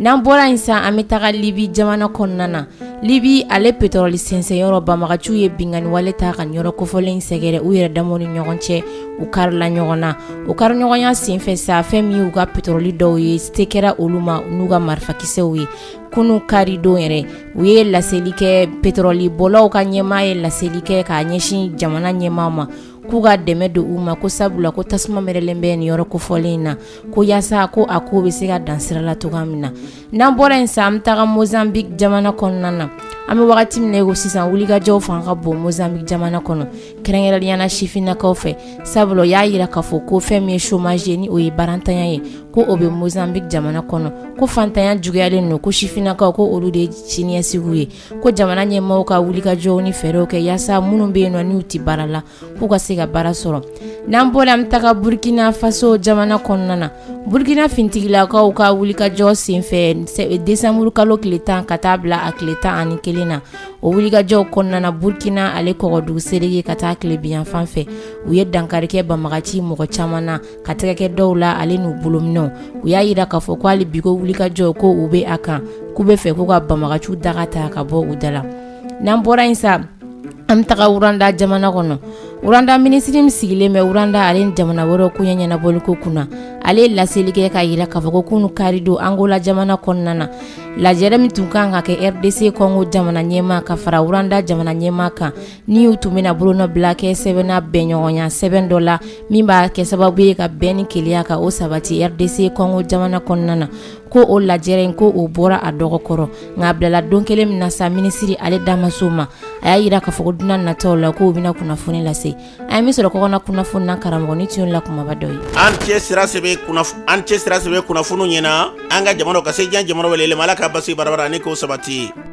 n'an bɔra yen sa an bɛ taga libi jamana kɔnɔna na libi ale petɔrɔli sɛnsɛnyɔrɔ banbagaciw ye binganiwale ta ka yɔrɔ kofɔlen sɛgɛrɛ u yɛrɛ damaw ni ɲɔgɔn cɛ u karila ɲɔgɔn na u kariɲɔgɔnya senfɛ sa fɛn min y'u ka petɔrɔli dɔw ye se kɛra olu ma n'u ka marifakisɛw ye kunun karidon yɛrɛ u ye laseli kɛ petɔrɔli bɔlaw ka ɲɛmaa ye laseli kɛ ka ɲɛsin jamana ɲɛmaa ma k'u ka dɛmɛ don u ma ko sabula ko tasuma mɛnɛlen bɛ nin yɔrɔ kofɔlen in na ko yaasa ko a ko bɛ se ka dan sira la cogoya min na n'an bɔra yen sa an bɛ taga mozambique jamana kɔnɔna na an bɛ wagati min ko sisan wulikajɔw fanga ka bon mozambique jamana kɔnɔ kɛrɛnkɛrɛnnenya na sifinnakaw fɛ sabula y'a yira k'a fɔ ko fɛn min ye chômage ni o ye baarantanya ye ko o bɛ mozambique jamana kɔnɔ ko faantanya juguyalen don ko sifinnakaw ko olu de ye siniɲɛsigi ye ko jamana ɲɛmaaw ka wuli ka jɔ ni fɛɛrɛw kɛ yaasa minnu bɛ yen nɔ n'u tɛ baara la k'u ka se ka baara sɔrɔ n'an bɔra an bɛ taga burukina faso jamana kɔnɔna na burukina finitigilakaw ka wulikajɔ senfɛ desanburu kalo tile tan ka taa bila a tile tan ani kelen na o wulikajɔw kɔnɔna na burkina ale kɔgɔdugu serege ka taa tilebinyanfan fɛ u ye dankari kɛ banbagaci mɔgɔ caman na ka tɛgɛ kɛ dɔw la ale n'u bolominɛnw u y'a yira k'a fɔ ko hali bi ko wulikajɔ ko u bɛ a kan k'u bɛ fɛ k'u ka banbagaciw daga ta ka bɔ u da la n'an bɔra yen sa an bɛ taga rwanda jamana kɔnɔ rwanda minisiri min sigilen bɛ rwanda ale ni jamana wɛrɛw koɲɛ ɲɛnabɔli ko kunna ale ye laseli kɛ k'a yira k'a fɔ ko kununu kari don angola jamana kɔnɔna na lajɛrɛ min tun kan ka kɛ rdc kɔngo jamana ɲɛmaa ka fara rwanda jamana ɲɛmaa kan ni u tun bɛna bolonɔ bila kɛ sɛbɛn na bɛnɲɔgɔnya sɛbɛn dɔ la min b'a kɛ sababu ye ka bɛn ni kelenya ka o sabati rdc kɔngo jamana kɔnɔna na ko o lajɛrɛ in ko o bɔra a dɔgɔ kɔrɔ nka a bilala don kelen min na sa minisiri ale da ma s'o ma a y'a yira k'a fɔ ko don nataw la k'o bɛna kunnafoni lase an ye min sɔrɔ kɔkanna kunnafoni na karamɔgɔ ni tun la kumaba dɔ ye an cɛ sira sɛbɛ kunnafoni ɲɛna an ka jamana ka se jan jamana wɛrɛ ma ala ka basi barabara ni ko sabati